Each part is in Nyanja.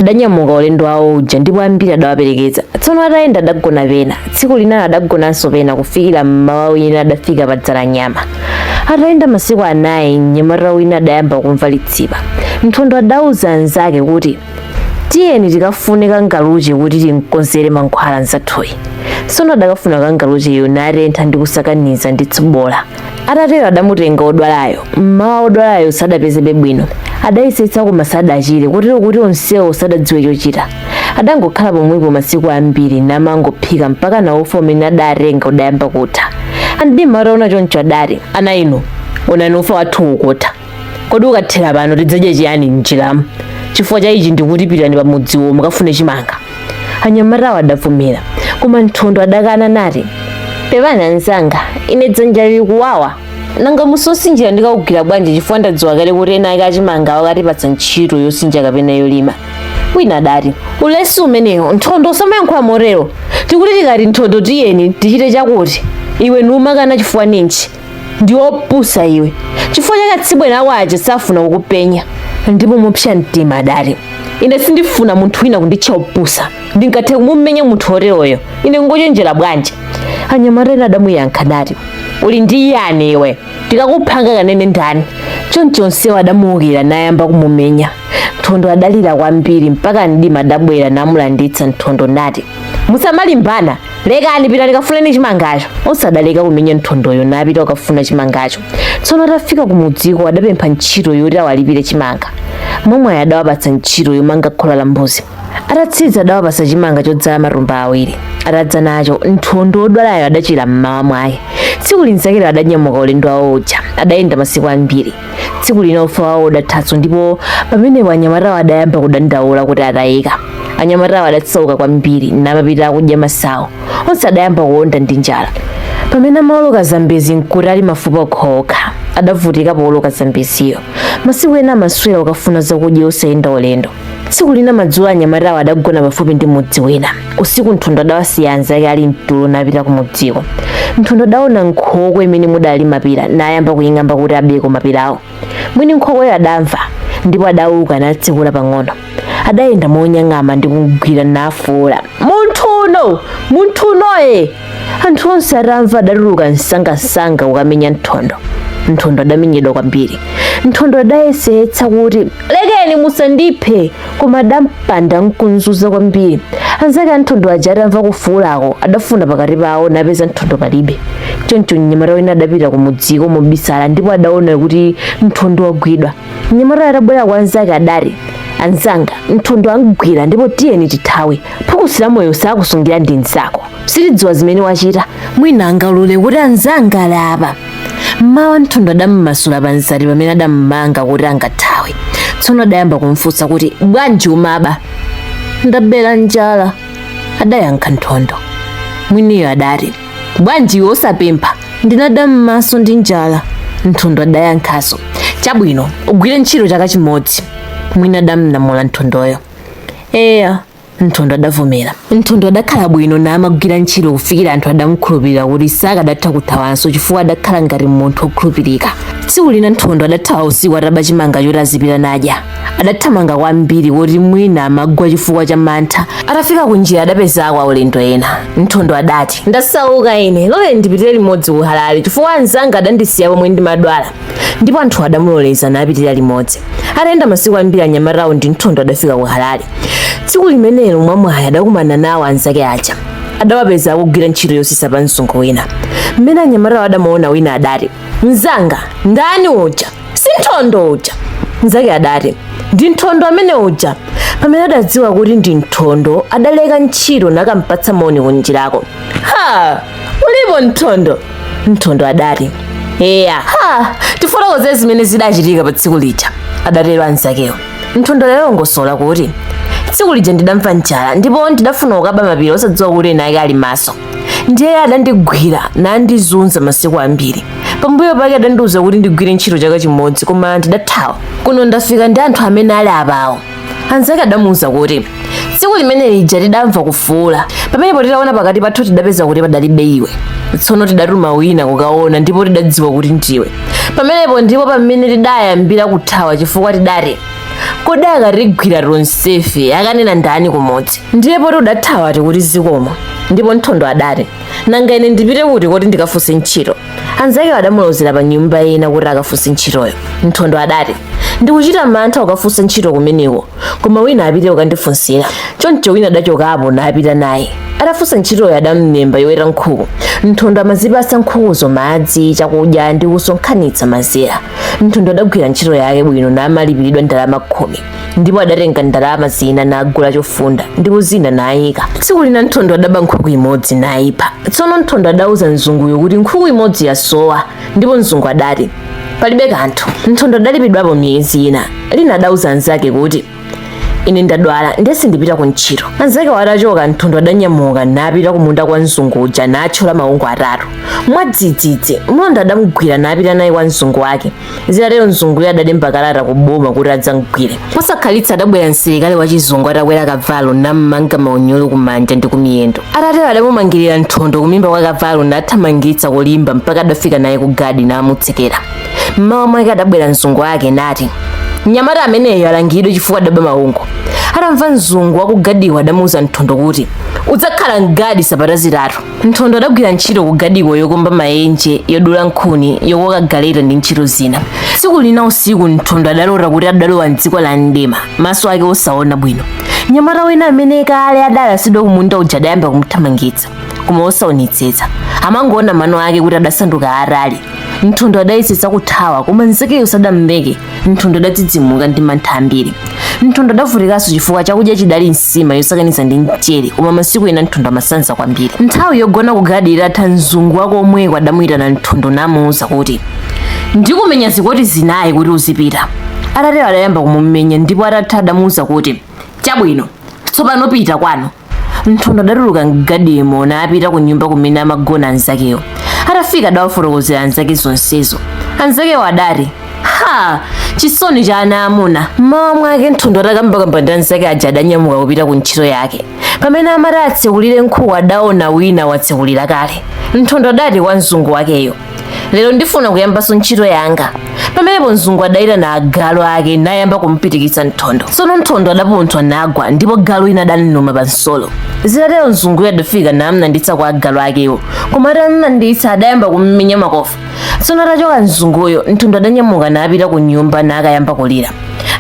Adanyamuka ulendo wawo uja ndipo ambiri adawaperekeza. Tsono atayenda adagona pena, tsiku linalo adagonanso pena kufikira m'mawa wina adafika pa Dzalanyama. Atayenda masiku anayi, mnyamata wina adayamba kumva litsipa. Nthondo adauza anzake kuti, Tiyeni tikafune kangaluche kuti timkonzere mankhwala mnzathuyi. Tsono adakafuna kangalucheyo natentha ndi kusakaniza ndi tsobola. atatero adamutenga wodwalayo mmawa wodwalayo sadapezebe bwino adayesetsa koma sadachire kotero kuti onsewo sadadziwe chochita adangokhala pomwepo masiku ambiri namangophika mpaka naufa umene adatenga udayamba kutha a mdima ataona choncho adati ana inu onani ufa wathu ukutha kodi ukathera pano tidzadya chiyani m'njiramu chifukwa cha ichi ndikuti pitani pamudziwo mukafune chimanga anyamatawo adavomera koma nthondo adakana nati pepani anzanga ine dzanja lili kuwawa nanga musi wosinjira ndikaugwira bwanji chifukwa ndadziwa kale kuti eni ake a chimanga akatipatsa ntchito yosinja kapena yolima wina adati ulesi umenewo nthondo usamayankhula motero tikuti tikati nthondo tiyeni tichite chakuti iwe numakana chifukwa ninji ndi wopusa iwe chifukwa chake atsibweni ako aja safuna kukupenya ndipo mopsa mtima adati ine sindifuna munthu wina kunditcha wopusa ndingathe kumumenya munthu woteroyo ine ngochenjera bwanji anyamata ena adamuyankha nati uli ndi yani iwe tikakupha angakanene ndani choncho onsewo adamuukira nayamba kumumenya nthondo adalira kwambiri mpaka mdima adabwera namulanditsa nthondo nati musamalimbana lekani pitani kafuneni chimangacho onse adaleka kumenya nthondoyo napita ukafuna chimangacho tsono atafika kumudziko adapempha ntchito yoti awalipire chimanga mwamwayi adawapatsa ntchito yomanga khola la mbuzi atatsiza adawapatsa chimanga chodzala matumba awiri atadza nacho nthondo wodwalayo adachira mmawa mwake tsiku linzakelo adanyamuka ulendo wawo uja adayenda masiku ambiri tsiku lina ufa wawo udathanso ndipo pamenepo anyamatawo adayamba kudandaula kuti atayika anyamatawo adasauka kwambiri namapita akudya masawu onse adayamba kuonda ndi njala pamene amaoloka zambezi nkuti ali mafupa okhaokha adavutika pooloka zambeziyo masiku ena amaswera ukafuna zakudya osayenda ulendo tsiku lina madzulo anyamatawo adagona pafupi ndi mudzi wina usiku nthondo adawasiya anzake ali mtulo napita kumudziko nthondo adaona nkhokwe imene mudali mapira nayamba kuying'amba kuti abeko mapirawo mwini nkhokweyo adamva ndipo adauka natsekula pang'ono adayenda monyang'ama ndi kugwira nafuula munthu uno munthu unoye anthu onse atamva adatuluka msangamsanga kukamenya nthondo nthondo adamenyedwa kwambiri nthondo adayesetsa kuti lekeni musandiphe koma adampanda nkumzunza kwambiri anzake a nthondo aja atamva kufuulako adafuna pakati pawo napeza nthondo palibe choncho mnyamata wina adapita kumudziko mobisala ndipo adaona kuti nthondo wagwidwa mnyamata atabwera kwa anzake adati anzanga nthondo amgwira ndipo tiyeni tithawe phukusi la moyo sakusungira ndi mnzako sitidziwa zimene wachita mwina angaulule kuti anzanga ali apa mmawa nthondo adammasula panzati pamene adammanga kuti angathawe tsono adayamba kumfunsa kuti bwanji umaba ndabera njala adayankha nthondo mwiniyo adati bwanji iwe osapempha ndinada m'maso ndi njala nthondo adayankhaso chabwino ugwire ntchito chaka chimodzi mwini adamlamula nthondoyo eya nthondo adavomera nthondo adakhala bwino namagwira ntchito kufikira anthu adamukhulupirira kuti sakadatha kuthawanso chifukwa adakhala ngati munthu wokhulupirika tsiku lina nthondo adathawa usiku ataba chimanga choti azipita nadya adathamanga kwambiri koti mwina amagwa chifukwa cha mantha atafika kunjira adapezako aulendo ena nthondo adati ndasauka ine lole ndipitire limodzi ku halale chifukwa anzanga adandisiya pomwe ndimadwala ndipo anthu adamuloleza napitira limodzi atayenda masiku ambiri anyamatawo ndi nthondo adafika ku halale tsiku limenelo mwamwayi adakumana nawo anzake aja adawapeza akugwira ntchito yosisa pa mzungu wina mmene anyamatawo adamuona wina adati mzanga ndani uja si nthondo uja mnzake adati ndi nthondo amene uja pamene adadziwa kuti ndi nthondo adaleka ntchito nakampatsa moni kunjirako ha ulipo nthondo nthondo adati eya ha tifotokoze zimene zidachitika pa tsiku lija adatero anzakewo nthondo adalongosola kuti tsiku lija ndidamva njala ndipo ndidafuna kukaba mapira osadziwa kuti eni ake ali maso ndiye adandigwira nandizunza masiku ambiri pambuyo pake adandiuza kuti ndigwire ntchito chaka chimodzi koma ndidathawa kuno ndafika ndi anthu amene ali apawo anzake adamuuza kuti tsiku limene lija tidamva kufuula pamenepo titaona pakati pathu tidapeza kuti padalibe iwe tsono tidatuma wina kukaona ndipo tidadziwa kuti ndiwe pamenepo ndipo pamene tidayambira kuthawa chifukwa tidati kodi akatigwira tonsefe akanena ndani kumudzi ndiye poti udathawa tikuti zikomo ndipo nthondo adati nanga ine ndipite kuti koti ndikafunse ntchito anzake adamulozera pa nyumba ina kuti akafunse ntchitoyo nthondo adati ndikuchita mantha kukafunsa ntchito kumeneko koma wina apite kukandifunsira choncho wina adachokapo napita naye atafunsa ntchitoyo adamlemba yoweta nkhuku nthondo amazipatsa nkhukuzo madzi chakudya ndi kusonkhanitsa mazira nthondo adagwira ntchito yake bwino namalipiridwa ndalama khumi ndipo adatenga ndalama zina nagula chofunda ndipo zina nayika tsiku lina nthondo adaba nkhuku imodzi nayipha tsono nthondo adauza mzunguyo kuti nkhuku imodzi yasowa ndipo mzungu adati palibe kanthu nthondo adalipidwapo miyezi ina lina adauza anzake kuti ine ndadwala ndiye sindipita ku ntchito anzake watachoka nthondo adanyamuka napita ku munda kwa mzungu uja natchola maungu atatu mwadzidzidzi mlonda adamgwira napita naye kwa mzungu wake zitatero mzunguyo adalemba kalata ku boma kuti adzamgwire posakhalitsa adabwera msilikali wa chizungu atakwera kavalo nammanga maunyolo kumanja ndi kumiyendo atatero adamumangirira nthondo kumimba kwa kavalo nathamangitsa kulimba mpaka adafika naye ku gadi namutsekera mmawa mwake adabwera mzungu wake nati mnyamata ameneyo alangidwe chifukwa adaba maungu atamva mzungu wakugadiko adamuuza nthondo kuti udzakhala mgadi sabata zitatu nthondo adagwira ntchito kugadiko yokumba mayenje yodula nkhuni yokoka galeta ndi ntchito zina tsiku lina usiku nthondo adalota kuti adalowa mdziko la mdima maso ake osaona bwino mnyamata wina amene kale adalasidwa kumunda uja adayamba kumthamangitsa koma osaonetsetsa amangoona mano ake kuti adasanduka atali nthondo adayesetsa kuthawa koma nzakeyo sadamleke nthondo adadzidzimuka ndi mantha ambiri nthondo adavutikanso chifukwa chakudya chidali nsima yosakaniza ndi mchere koma masiku ena nthondo amasanza kwambiri nthawi yogona kugadi itatha mzungu wa komweko adamuyitana nthondo namuwuza kuti ndikumenya zikoti zinayi kuti uzipita atatero adayamba kumumenya ndipo atatha adamuwuza kuti chabwino tsopano pita kwanu nthondo adatuluka mgadimo napita ku nyumba kumene amagona anzakewo atafika adawafotokozera anzake zonsezo anzakewo adati ha chisoni cha ana amuna mmawa mwake nthondo atakambakamba ndi anzake aja adanyamuka kupita ku ntchito yake pamene amati atsekulire nkhuku adaona wina watsekulira kale nthondo adati kwa mzungu wakeyo lero ndifuna kuyambanso ntchito yanga pamenepo mzungu adayitana agalu ake nayamba kumpitikitsa nthondo tsono nthondo adapunthwa nagwa ndipo galu wina adamluma pa nsolo zitatero mzunguyo adafika namlanditsa kwa agalu akewo koma atamlanditsa adayamba kummenya makofi tsono atachoka mzunguyo nthondo adanyamuka napita ku nyumba nakayamba kulira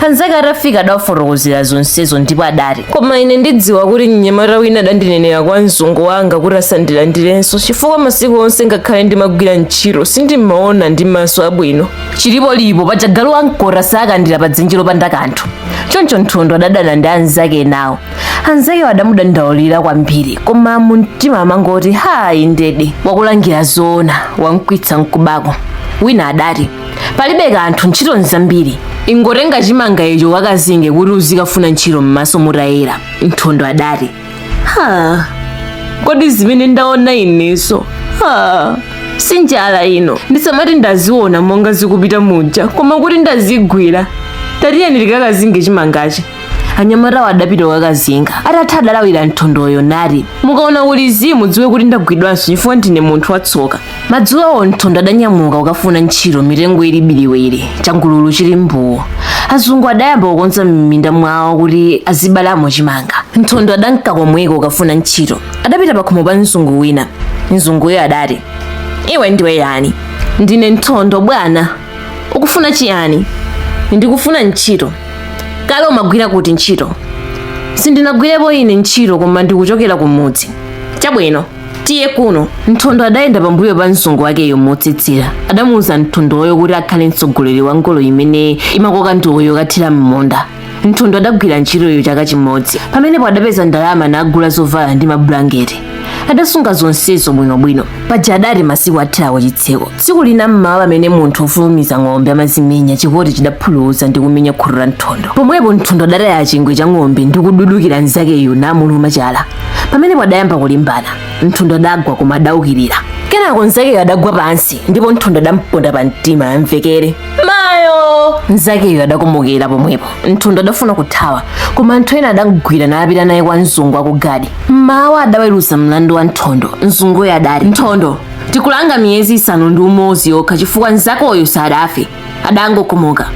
anzake atafika adawafotokozera zonsezo ndipo adati koma ine ndidziwa kuti mnyamata wina adandinenera kwa mzungu wanga kuti asandilandirenso chifukwa masiku onse ngakhale ndimagwira ntchito sindimaona ndi maso abwino chilipolipo paja galu wamkota sakandira pa dzenje lopanda kanthu choncho nthondo adadana ndi anzake enawo anzakewo adamudandaulira kwambiri koma mumtima amangoti hayi ndedi wakulangira zoona wamkwitsa mkubako wina adati palibe kanthu ntchito nzambiri ingotenga chimanga icho ukazinge kuti uzikafuna ntchito m'maso mutayera nthondo adati ha kodi zimene ndaona ineso ha si njala ino ndisamati ndaziona monga zikupita muja koma kuti ndazigwira tatiyeni tikakazinge chimangachi anyamatawo adapita kukazinga atatha adalawira nthondoyo nati mukaona kuli zii mudziwe kuti ndagwidwanso chifukwa ndine munthu watsoka madzulowo nthondo adanyamuka kukafuna ntchito mitengo ili biliwiri changululu chili mbuwo azungu adayamba kukonza m'minda mwawo kuti azibzalamo chimanga nthondo adanka komweko kukafuna ntchito adapita pakhomo pa mzungu wina mzunguyo adati iwe ndiwe yani ndine nthondo bwana ukufuna chiyani ndikufuna ntchito kale umagwira kuti ntchito sindinagwirepo ine ntchito koma ndikuchokera kumudzi chabwino tiye kuno nthondo adayenda pambuyo pa mzungu wakeyo motsitsira adamuwuza nthondoyo kuti akhale mtsogoleri wa ngolo imene imakoka ndowe yokathira m'munda nthondo adagwira ntchitoyo chaka chimodzi pamenepo adapeza ndalama nagula zovala ndi mabulangeti adasunga zonsezo bwinobwino paja adati masiku athera ku chitseko tsiku lina mmawa pamene munthu ofulumiza ng'ombe amazimenya chikoti chidaphuluza ndi kumenya khutu la nthondo pomwepo nthondo adataya chingwe cha ng'ombe ndi kududukira mnzakeyo namuluma chala pamenepo adayamba kulimbana nthondo adagwa koma adaukirira kenako mnzakeyo adagwa pansi ndipo nthondo adamponda pa mtima amvekere mayo mnzakeyo adakomokera pomwepo nthondo adafuna kuthawa koma anthu ena adamgwira napita naye kwa mzungu akugadi mmawa adaweruza mlandu wa nthondo mzunguyo adati nthondo tikulanga miyezi isanu ndi umodzi yokha chifukwa mnzakoyo sadafe adangokomoka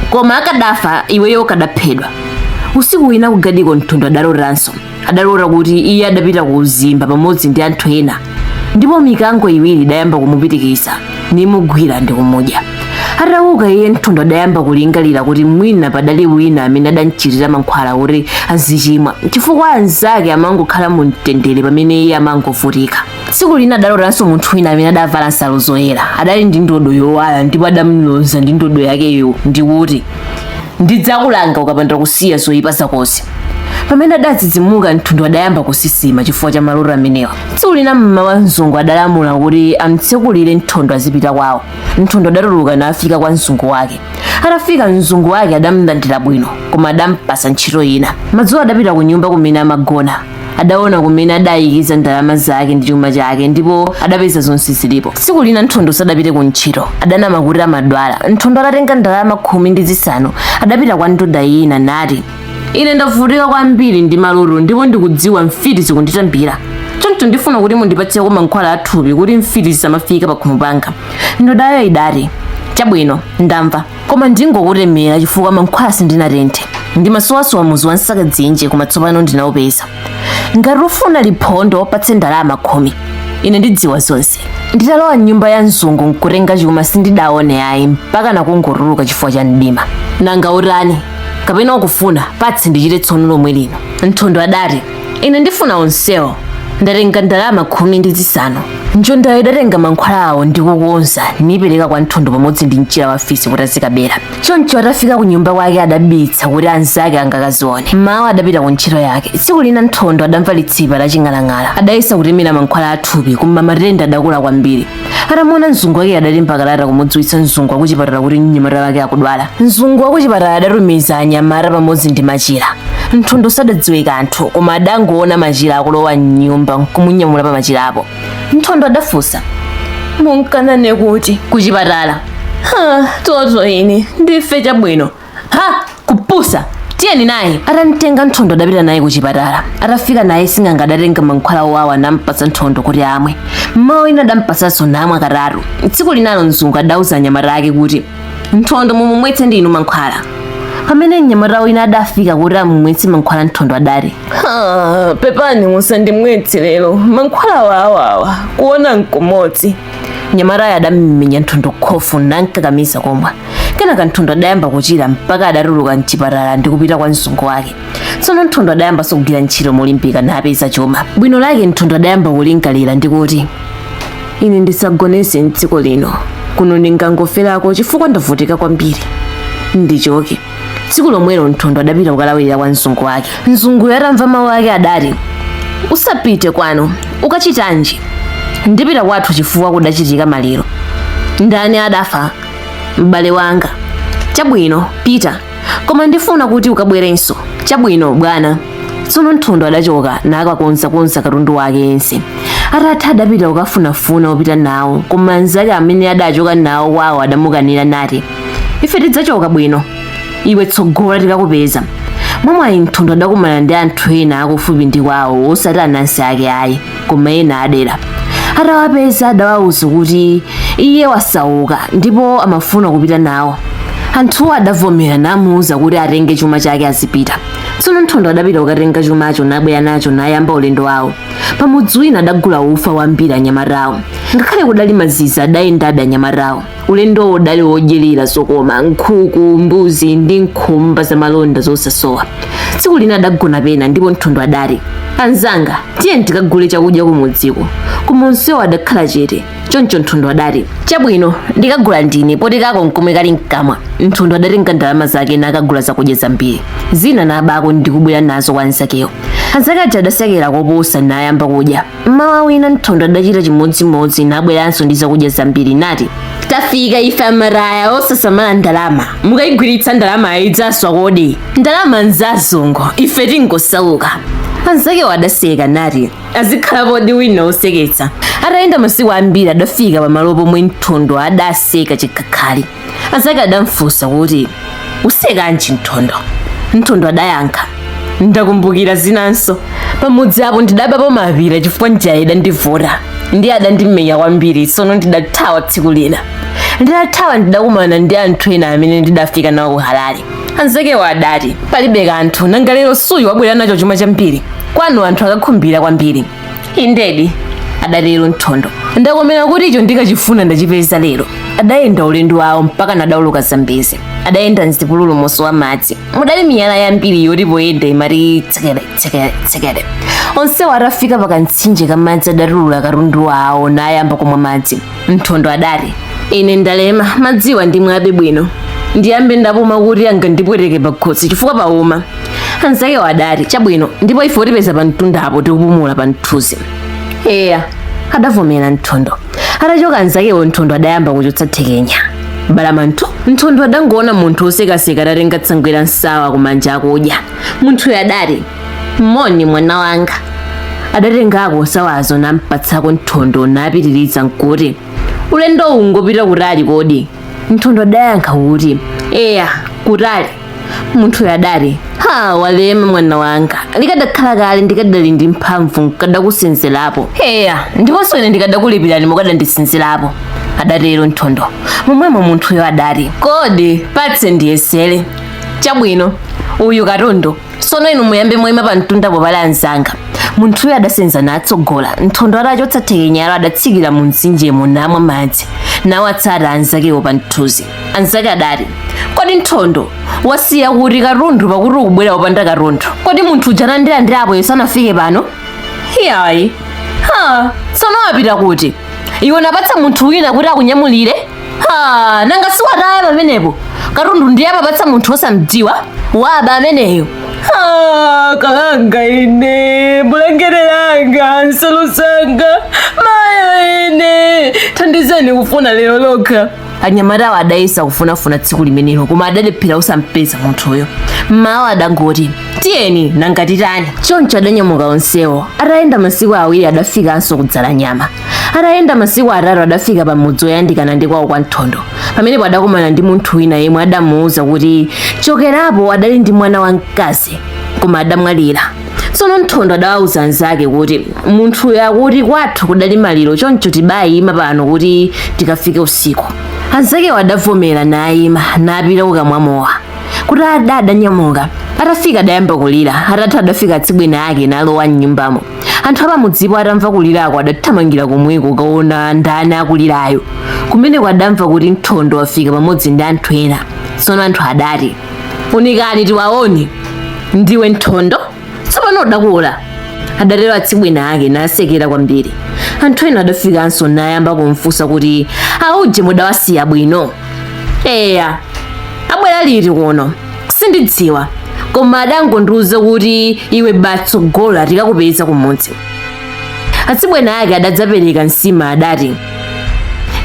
koma akadafa iweyo ukadaphedwa usiku wina ku gadiko nthondo adalotanso adalota kuti iye adapita ku uzimba pamodzi ndi anthu ena ndipo mikango iwiri idayamba kumupitikisa nimugwira ndi kumudya atauka iye nthondo adayamba kulingalira kuti mwina padali wina amene adamchitira mankhwala kuti azichimwa chifukwa anzake amangokhala mu mtendere pamene iye amangovutika tsiku lina adalotanso munthu wina amene adavala nsalu zoyera adali ndi ndodo yowala ndipo adamloza ndi ndodo yakeyo ndi kuti ndidzakulanga ukapanda kusiya zoyipa zakozi pamene adadzidzimuka nthondo adayamba kusisima chifukwa cha maloto amenewa tsiku lina mmawa mzungu adalamula kuti amtsekulire nthondo azipita kwawo nthondo adatuluka nafika kwa mzungu wake atafika mzungu wake adamlandira bwino koma adampatsa ntchito ina madzulo adapita ku nyumba kumene amagona adaona kumene adayikiza ndalama zake ndi chuma chake ndipo adapeza zonse zilipo tsiku lina nthondo sadapite ku ntchito adanama kuti amadwala nthondo adatenga ndalama khumi ndi zisanu adapita kwa ndoda ina nati ine ndavutika kwambiri ndi maloto ndipo ndikudziwa mfiti zikunditambira choncho ndifuna kuti mundipatseko mankhwala athupi kuti mfiti zisamafika pakhomo panga ndodayo idati chabwino ndamva koma ndingokutemera chifukwa mankhwala sindinatenthe ndimasowasowa muzu wa nsaka dzinje koma tsopano ndinaupeza ngati ufuna liphondo patse ndalama khumi ine ndidziwa zonse nditalowa m'nyumba ya mzungu nkutenga chuma sindidaone ayi mpaka nakungotuluka chifukwa cha mdima nanga utani kapena ukufuna patse ndichite tsono lomwe lino nthondo adati ine ndifuna onsewo ndatenga ndalama khumi ndi zisanu njondayo idatenga mankhwala awo ndi kukonza nipereka kwa nthondo pamodzi ndi mchira wa fisi kuti azikabera choncho atafika ku nyumba kwake adabitsa kuti anzake angakazione mmawa adapita ku ntchito yake tsiku lina nthondo adamva litsipa la ching'alang'ala adayesa kutemera mankhwala athupi koma matenda adakula kwambiri atamuona mzungu wake adalemba kalata kumudziwitsa mzungu wakuchipatala kuti mnyamata wake akudwala mzungu wakuchipatala adatumiza anyamata pamodzi ndi machira nthondo sadadziwe kanthu koma adangoona machira akulowa mnyumba nkumunyamula pa machirapo nthondo adafunsa munka nane kuti kuchipatala ha toto ine ndife chabwino ha kupusa tiyeni naye atamtenga nthondo adapita naye ku chipatala atafika naye sing'anga adatenga mankhwala owawa nampatsa nthondo kuti amwe mmawa ina adampatsanso namwa katatu tsiku linalo mzungu adauza anyamata ake kuti nthondo mumumwetse ndi inu mankhwala pamene mnyamata wina adafika kuti amumwetse mankhwala nthondo adati "Ha, pepani musandimwetse lero mankhwala owawawa kuona nkumodzi mnyamatayo adamumenya nthondo khofu namkakamiza kumwa kenaka nthondo adayamba kuchira mpaka adatuluka mchipatala ndi kupita kwa mzungu wake tsono nthondo adayamba kugwira ntchito molimbika napeza chuma bwino lake nthondo adayamba kulingalira ndi kuti ine ndisagonetse mdziko lino kuno ndingangoferako chifukwa ndavutika kwambiri ndichoke tsiku lomwelo nthondo adapita kukalawirira kwa mzungu wake mzunguyo atamva mawu ake adati usapite kwanu ukachitanji ndipita kwathu chifukwa kudachitika maliro ndani adafa m'bale wanga chabwino pita koma ndifuna kuti ukabwerenso chabwino bwana tsono nthondo adachoka nakakonzakonza katundu wake yense atatha adapita kukafunafuna opita nawo koma anzake amene adachoka nawo kwawo adamukanira nati ife tidzachoka bwino iwe tsogola tikakupeza mwamwayi nthondo adakumana ndi anthu ena akufupi ndi kwawo osati anansi ake ayi koma ena adera atawapeza adawawuza kuti iye wasauka ndipo amafuna kupita nawo anthuwo adavomera namuwuza kuti atenge chuma chake azipita tsono nthondo adapita kukatenga chumacho nabwera nacho nayamba ulendo wawo pamudzi wina adagula ufa wambiri anyamatawo ngakhale kudali mazizi adayendabe anyamatawo Ulendowo udali wodyerera zokoma, nkhuku, mbuzi ndi nkhumba za malonda zosasowa. Tsiku lina adagona pena ndipo Nthondo adati, Anzanga, tiyeni tikagule chakudya kumudziko. Koma onsewo adakhala chete. Choncho Nthondo adati, Chabwino, ndikagula ndine poti kako nkomwe kali mkamwa. Nthondo adatenga ndalama zake nakagula zakudya zambiri. Zina nabako ndi kubwera nazo kwa anzakewo. Anzake aja adasekera koposa nayamba kudya. Mmawa wina Nthondo adachita chimodzimodzi nabweranso ndi zakudya zambiri nati, Tafika ife amataya osasamala ndalama. Mukayigwiritsa ndalama idzaswa kodi? Ndalama nzazungu, ife tingosauka. Anzakewo adaseka nati, azikhalapodi wina woseketsa. Atayenda masiku ambiri adafika pamalo pomwe Nthondo adaseka chikhakhali. anzake adamfunsa kuti usekanji nthondo nthondo adayankha ndakumbukira zinanso pamudzi apo ndidabapo mapira chifukwa njala idandivuta ndiye adandimenya kwambiri tsono ndidathawa tsiku lina ndidathawa ndidakumana ndi anthu ena amene ndidafika nawo ku harare anzakewo adati palibe kanthu nanga lero suyu wabwera nacho chuma chambiri kwanu anthu akakhumbira kwambiri indedi adatero nthondo ndakomera kuti icho ndikachifuna ndachipeza lero adayenda ulendo wawo mpaka nadawoloka zambezi adayenda mzipululu mosowa madzi mudali miyala yambiri yoti poyenda imati tsekere tsekere tsekere onsewo atafika pa kamtsinje ka madzi adatulula katundu wawo nayamba kumwa madzi nthondo adati ine ndalema madziwa ndimwabe bwino ndiyambe ndapuma kuti angandipweteke pakhosi chifukwa pauma anzakewo adati chabwino ndipo ife utipeza pa mtunda apo tikupumula pa mthunzi eya adavomera nthondo atachoka anzakewo nthondo adayamba kuchotsa thekenya balamanthu nthondo adangoona munthu wosekaseka atatenga tsangwe la nsawa kumanja akudya munthuyo adati moni mwana wanga adatengako nsawazo nampatsako nthondo napitiriza nkuti ulendo uwu ngopita kutali kodi nthondo adayankha kuti eya kutali munthuyo adati ha walema mwana wanga likadakhala kale ndikadali ndi mphamvu nkadakusenzerapo eya ndiponso ine ndikadakulipirani mukadandisenzerapo adatero nthondo momwemo munthuyo adati kodi patse ndiyesere chabwino uyu katundu sono inu muyambe mwaima pa mtundapo pali anzanga munthuyo adasenza natsogola nthondo atachotsa thekenyalo adatsikira mu mtsinjemo namwa madzi nawatsata anzakewo pa mthunzi anzake adati kodi nthondo wasiya kuti katundu pakuti ukubwera wopanda katundu kodi munthu uja anandilandira apo sanafike pano iyayi ha sono wapita kuti iwe napatsa munthu wina kuti akunyamulire ha nanga siwataya pamenepo katundu ndiye amapatsa munthu osamdziwa waba ameneyo Ah, kalanga ine bulangete langa nsalu zanga mayo ine thandizeni kufuna lero lokha anyamatawo adayesa kufunafuna tsiku limenelo koma adalephera osampeza munthuyo mmawa adangoti tiyeni nanga titani choncho adanyamuka onsewo atayenda masiku awiri adafikanso ku dzalanyama atayenda masiku atatu adafika pa mudzi woyandikana ndi kwawo kwa mthondo pamenepo adakumana ndi munthu wina yemwe adamuwuza kuti chokerapo adali ndi mwana wamkazi koma adamwalira tsono mthondo adawawuza anzake kuti munthuyo akuti kwathu kudali maliro choncho tibayima pano kuti tikafike usiku anzakewo adavomera nayima napita kukamwa mowa kutada adanyamuka atafika adayamba kulira atatha adafika atsibweni ake nalowa mnyumbamo anthu apamudzipo atamva kulirako adathamangira komweko kukaona ndani akulirayo kumeneko adamva kuti Mthondo wafika pamodzi ndi anthu ena tsono anthu adati unikani tiwaone ndiwe Mthondo tsopano udakula adatero atsibweni ake nasekera kwambiri anthu ena adafikanso nayamba kumfunsa kuti auje mudawasiya bwino eya abwera liti kuno sindidziwa koma adangondiuza kuti iwe batsogola tikakupeza kumudzi atsibweni ake adadzapereka nsima adati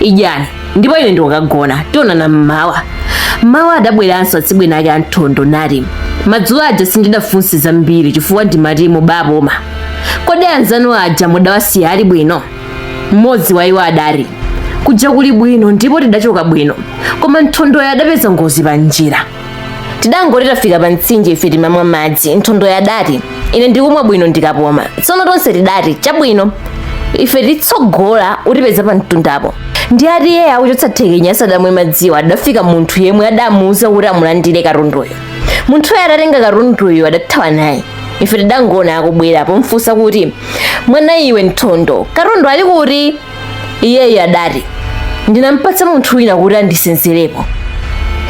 idyani ndipo ine ndikukagona tionana mmawa mmawa adabweranso atsibweni ake a mthondo nati madzulo aja sindidafunse zambiri chifukwa ndimati mubapuma kodi anzanu aja mudawasiya ali bwino Mmodzi wa iwo adati, Kuja kuli bwino ndipo tidachoka bwino, koma Mthondoyo adapeza ngozi pa njira. Tidangoti tafika pa mtsinje ife timamwa madzi. Mthondoyo adati, Ine ndikumwa bwino ndikapuma. Tsono tonse tidati, Chabwino, ife titsogola utipeza pa mtundapo. Ndiye ati iye akuchotsa thekenya asadamwe madziwo adafika munthu yemwe adamuuza kuti amulandire katunduyo. Munthuyo atatenga katunduyo adathawa naye. ife tidangoona akubwera pomfunsa kuti mwana iwe mthondo katundu ali kuti iyeyo adati ndinampatsa munthu wina kuti andisenzerepo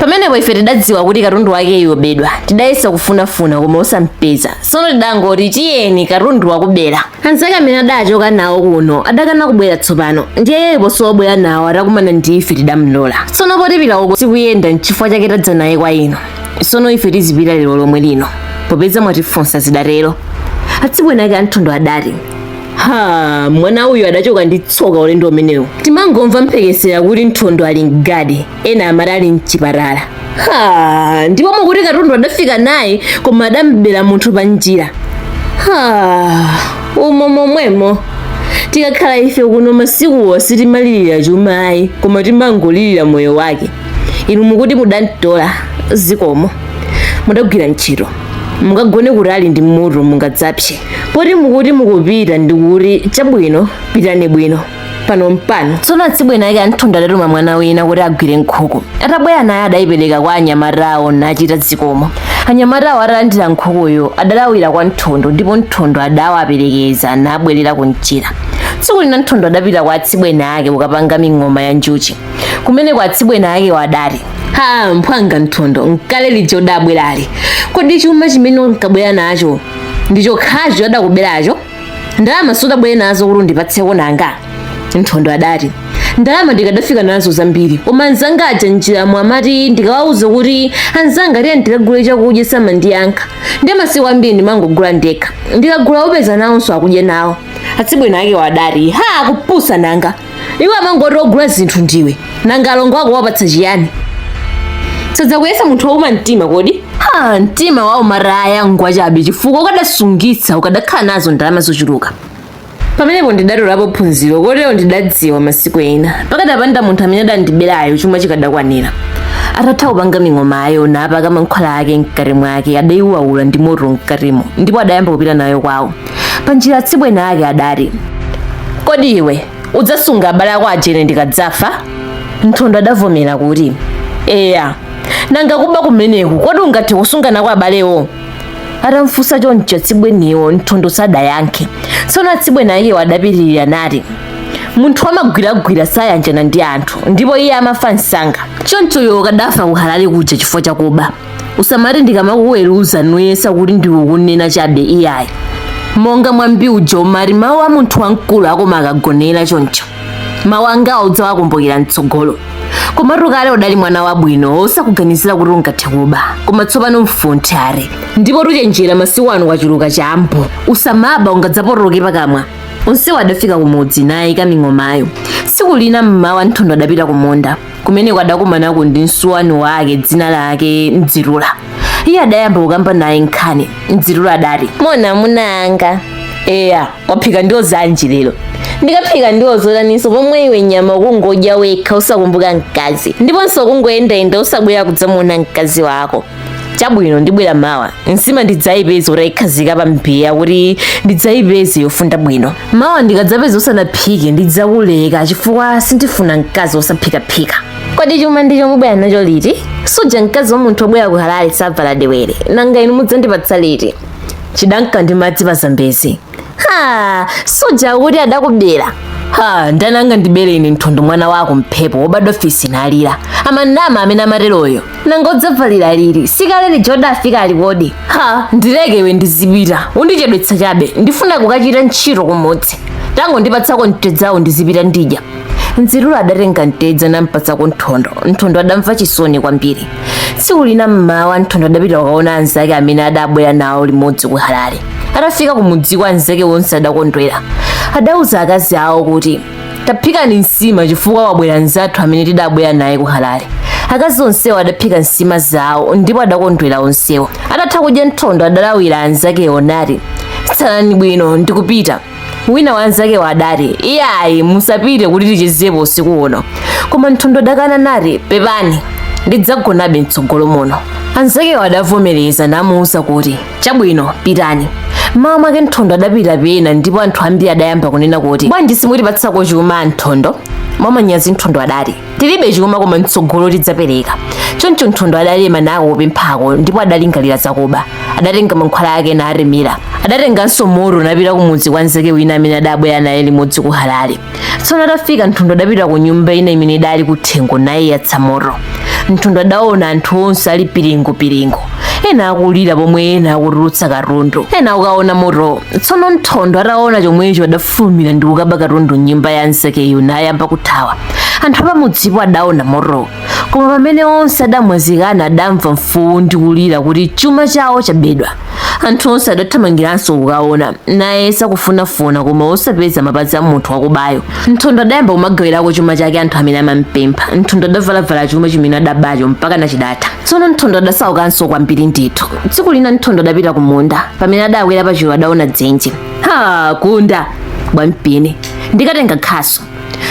pamenepo ife tidadziwa kuti katundu wakeyo wabedwa tidayesa kufunafuna koma osampeza tsono tidangoti tiyeni katundu wakubera anzake amene adachoka nawo kuno adakana kubwera tsopano ndiye iye posowa obwera nawo atakumana ndi ife tidamlola tsono poti pita uko sikuyenda nchifukwa chake tadza naye kwa inu tsono ife tizipita lero lomwe lino popeza mwatifunsa zidatero atsibweni ake a mthondo adati ha mwana uyu adachoka ndi tsoka ulendo umenewu timangomva mphekesera kuti mthondo ali mgadi ena amati ali mchipatala ha ndipo mukuti katundu adafika naye koma adam'bera munthu pa njira ha umo momwemo tikakhala ife kuno masikuwo sitimalirira chuma ayi koma timangolirira moyo wake inu mukuti mudamtola zikomo mudagwira ntchito mukagone kutali ndi moto mungadzapse poti mukuti mukupita ndikuti chabwino pitani bwino pano mpano tsono atsibweni ake a nthondo adatuma mwana wina kuti agwire nkhuku atabwera naye adayipereka kwa anyamatawo nachita zikomo anyamatawo atalandira nkhukuyo adalawira kwa nthondo ndipo nthondo adawaperekeza nabwerera kunjira tsiku lina nthondo adapita kwa atsibweni ake kukapanga ming'oma ya njuchi kumeneko atsibweni akewo adati ha mphwanga nthondo nkale lija udabwerali kodi chuma chimene unkabwera nacho ndi chokhacho adakuberacho ndalama sudabwere nazo kuti undipatseko nanga nthondo adati ndalama ndikadafika nazo zambiri koma anzanga aja njiramo amati ndikawauza kuti anzanga tiyeni tikagule chakudya samandiyankha ndi masiku ambiri ndimangogula ndekha ndikagula upeza nawonso akudya nawo atsibweni akewo adati ha kupusa nanga iwo amangoti ogula zinthu ndiwe nanga alongo ako wapatsa chiyani sadzakuyesa munthu wauma mtima kodi ha mtima wa umataya ngwachabe chifukwa ukadasungitsa ukadakhala nazo ndalama zochuluka pamenepo ndidatolapo phunziro kotero ndidadziwa masiku ena pakadapanda munthu amene adandiberayo chuma chikadakwanira atatha kupanga ming'omayo napaka mankhwala ake mkati mwake adaiwawula ndi moto mkatimo ndipo adayamba kupita nayo kwawo panjira atsibweni ake adati kodi iwe udzasunga abale ako aja ine ndikadzafa nthondo adavomera kuti eya nanga kuba kumeneku kodi ungathe kusunga nako abalewo atamfunsa choncho atsibweniwo nthondo sadayankhe tsono atsibweni akewo adapitirira nati munthu wamagwiragwira sayanjana ndi anthu ndipo iye amafa msanga choncho iwe ukadafa kuhalale kuja chifukwa chakuba usamati ndikamakuweruza nuyesa kuti ndikukunena chabe iyayi monga mwambi uja umati mawu a munthu wamkulu akoma akagonera choncho mawu angawo udzawakumbukira mtsogolo komatu kale udali mwana wabwino osakuganizira kuti ungathe kuba koma tsopano mfunthe are ndipotu chenjera masiku ano kwachuluka chambu usamaba ungadzapotoloke pakamwa onsewo adafika kumudzi nayika ming'omayo tsiku lina mmawa nthondo adapita kumunda kumeneko adakumanako ndi msuwani wake dzina lake mdzitula iye adayamba kukamba naye nkhani mdzitula adati moni amuna anga eya waphika ndiwo zanji lero ndikaphika ndiwo zotaninso pomwe iwe nyama ukungodya wekha osakumbuka mkazi ndiponso ukungoyendayenda osabwera kudzamuona mkazi wako chabwino ndibwera mawa nsima ndidzayipeze utayikhazika pa mbiya kuti ndidzayipeze yofunda bwino mawa ndikadzapeza usanaphike ndidzakuleka chifukwa sindifuna mkazi wosaphikaphika kodi chuma ndicho mubwera nacho liti suja mkazi wa munthu obwera ku halale savala dewere nanga inu mudzandipatsa liti chidanka ndi madzi pa zambezi ha suja kuti adakubera ha ndani angandibere ine nthondo mwana wa kumphepo wobadwa fisi nalira amanama amene amateroyo nanga udzavalira liri sikale lija udafika ali kodi ha ndileke iwe ndizipita undichedwetsa chabe ndifuna kukachita ntchito kumudzi tangondipatsako mtedzawo ndizipita ndidya nziruro adatenga mtedza nampatsako nthondo nthondo adamva chisoni kwambiri tsiku lina mmawa nthondo adapita kukaona anzake amene adabwera nawo limodzi ku halale atafika kumudziko anzake onse adakondwera adauza akazi awo kuti taphikani nsima chifukwa wabwera nzathu amene tidabwera naye ku halale akazi onsewo adaphika nsima zawo ndipo adakondwera onsewo atatha kudya nthondo adalawira anzakewo nati tsalani bwino ndikupita wina wa anzakewo adati iyayi musapite kuti tichezepo usiku uno koma nthondo adakana nati pepani ndidzagonabe mtsogolo muno anzakewo adavomereza namuwuza kuti chabwino pitani mmawa mwake nthondo adapita pena ndipo anthu ambiri adayamba kunena kuti bwanji simutipatsako chuma nthondo mwamanyazi nthondo adati tilibe chuma koma mtsogolo tidzapereka choncho nthondo adalema nako kupemphako ndipo adalingalira zakuba adatenga mankhwala ake natemera adatenganso moto napita kumudzi kwa nzake wina amene adabwera naye limodzi ku halale tsono atafika nthondo adapita ku nyumba ina imene idali kuthengo nayiyatsa moto nthondo adaona anthu onse ali piringupiringu ena akulira pomwe ena akutulutsa katundu ena akukaona moto tsono nthondo ataona chomwecho adafulumira ndi kukaba katundu mnyumba ya nzakeyo nayamba kuthawa anthu apamudzipo adaona moto koma pamene onse adamwazikana adamva mfuwu ndi kulira kuti chuma chawo chabedwa anthu onse adathamangiranso kukaona nayesa kufunafuna koma osapeza mapazi a munthu wakubayo nthondo adayamba kumagawirako chuma chake anthu amene amampempha nthondo adavalavala chuma chimene adabacho mpakana chidatha tsono nthondo adasaukanso kwambiri ndithu tsiku lina nthondo adapita kumunda pamene adakwera pachulu adaona dzenje ha kunda bwampini ndikatenga khasu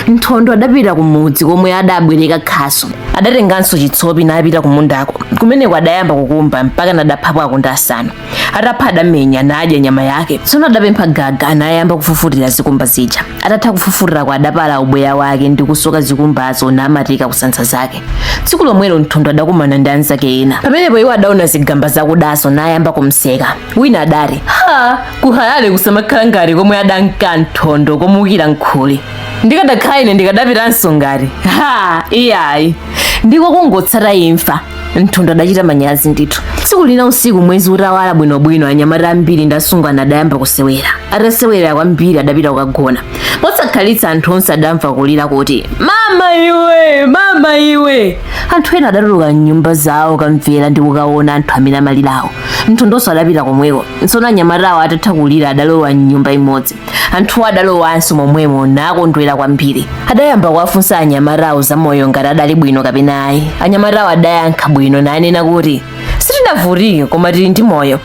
nthondo adapita kumudzi komwe adabwereka khasu adatenganso chitsopi napita kumundako kumeneko adayamba kukumba mpakana adaphapo akunda asanu atapha adamenya nadya nyama yake tsono adapempha gaga nayamba kufufutira zikumba zija atatha kufufutirako adapala ubweya wake ndi kusoka zikumbazo namatika kunsanza zake tsiku lomwelo nthondo adakumana ndi anzake ena pamenepo iwo adaona zigamba zakudazo nayamba kumseka wina adati ha kuhalale kusamakhala ngati komwe adanka nthondo komukira nkhuli ndikadakhala ine ndikadapitanso ngati ha iyayi ndiko kungotsata imfa nthondo adachita manyazi ndithu tsiku lina usiku mwezi utawala bwinobwino anyamata ambiri ndi asungwana adayamba kusewera atasewera kwambiri adapita kukagona posakhalitsa anthu onse adamva kulira kuti mama iwe mama iwe anthu ena adatuluka mnyumba zawo kamvera ndi kukaona anthu amene amalirawo nthondonso adapita komweko tsono anyamatawo atatha kulira adalowa mnyumba imodzi anthuwo adalowanso momwemo nakondwera kwambiri adayamba kuwafunsa anyamatawo za moyo ngati adali bwino kapena ayi anyamatawo adayankha bwino nanena kuti sitinavutike koma tili ndi moyo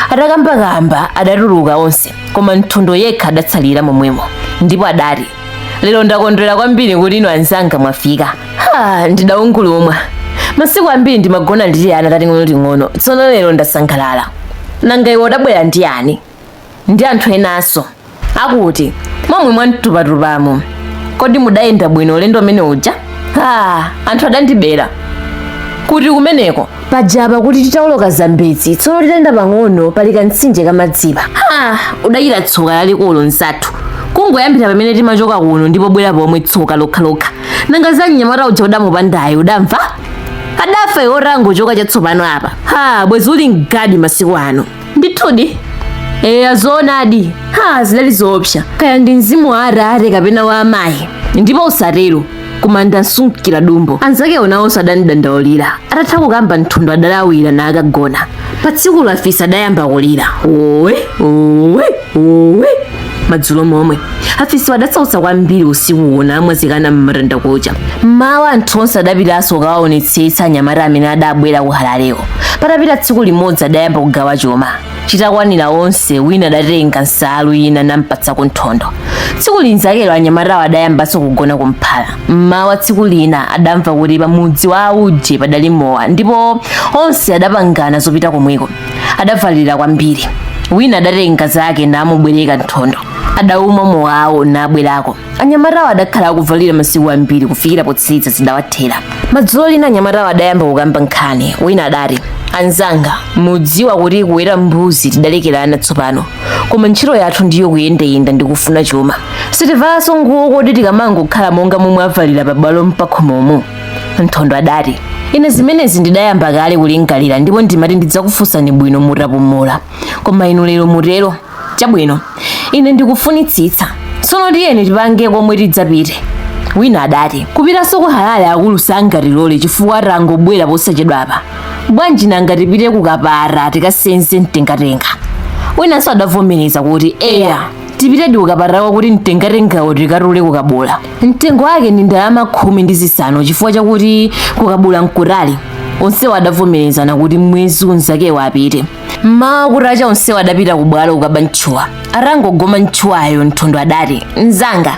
atakambakamba adatuluka onse koma nthondo yekha adatsalira momwemo ndipo adati lero ndakondwera kwambiri kuti inu anzanga mwafika ha ndidaungulumwa masiku ambiri ndimagona ndili ana tating'onoting'ono tsono lero ndasangalala nanga iwe udabwera ndi yani ndi anthu enanso akuti momwe mwamtupatupamo kodi mudayenda bwino ulendo umene uja ha anthu adandibera kuti kumeneko pajapa kuti titawoloka zambezi tsono titayenda pang'ono pali kamtsinje kamadzipa ha udachita tsoka lalikulu mnzathu kungoyambira pamene timachoka kuno ndi pobwera pomwe tsoka lokhalokha nanga za mnyamata uja udamupandayo udamva adafa iwe utangochoka chatsopano apa ha bwezi uli mgadi masiku ano ndithudi eya zoonadi ha zidali zoopsa kaya ndi mzimu wa atate kapena wa amayi ndipo usatero koma ndasungikira dumbo anzakewo nawonso adandidandaulira atatha kukamba nthondo adalawira nakagona pa tsikulo afisi adayamba kulira owe owe owe madzulo momwe afisiwo adatsautsa kwambiri usikuwo namwazikana m'matandakucha mmawa anthu onse adapitanso kukawaonetsetsa anyamata amene adabwera ku halalewo patapita tsiku limodzi adayamba kugawa chuma chitakwanira onse wina adatenga nsalu ina nampatsako nthondo tsiku linzakelo anyamatawo adayambanso kugona kumphala mmawa tsiku lina adamva kuti pamudzi wa auje padali mowa ndipo onse adapangana zopita komweko adavalira kwambiri wina adatenga zake namubwereka nthondo adaumwa mowawo nabwerako anyamatawo adakhala kuvalira masiku ambiri kufikira potsiriza zidawathera madzulo lina anyamatawo adayamba kukamba nkhani wina adati anzanga mudziwa kuti kuweta mbuzi tidalekerana tsopano koma ntchito yathu ndiyo kuyendayenda ndi kufuna chuma sitivalanso nguwo kodi tikamangokhala monga momwe avalira pabwalo mpakhomomo nthondo adati ine zimenezi ndidayamba kale kulingalira ndipo ndimati ndidzakufunsani bwino mutapumula koma inu lero mutero chabwino ine ndikufunitsitsa tsono tiyeni tipange komwe tidzapite wina adati kupitanso ku halale akulu sangatilole chifukwa tangobwera posachedwapa bwanji nanga tipite kukapata tikasenze mtengatenga winanso adavomereza kuti eya tipitedi kukapalako kuti mtengatengawo tikatule kukabula mtengo wake ndi ndalama khumi ndi zisanu chifukwa chakuti kukabula mkutali onsewo adavomerezana kuti mwezi unzakewo apite mmawa kutacha onsewo adapita kubwalo kukaba ntchuwa atangogoma ntchuwayo nthondo adati mzanga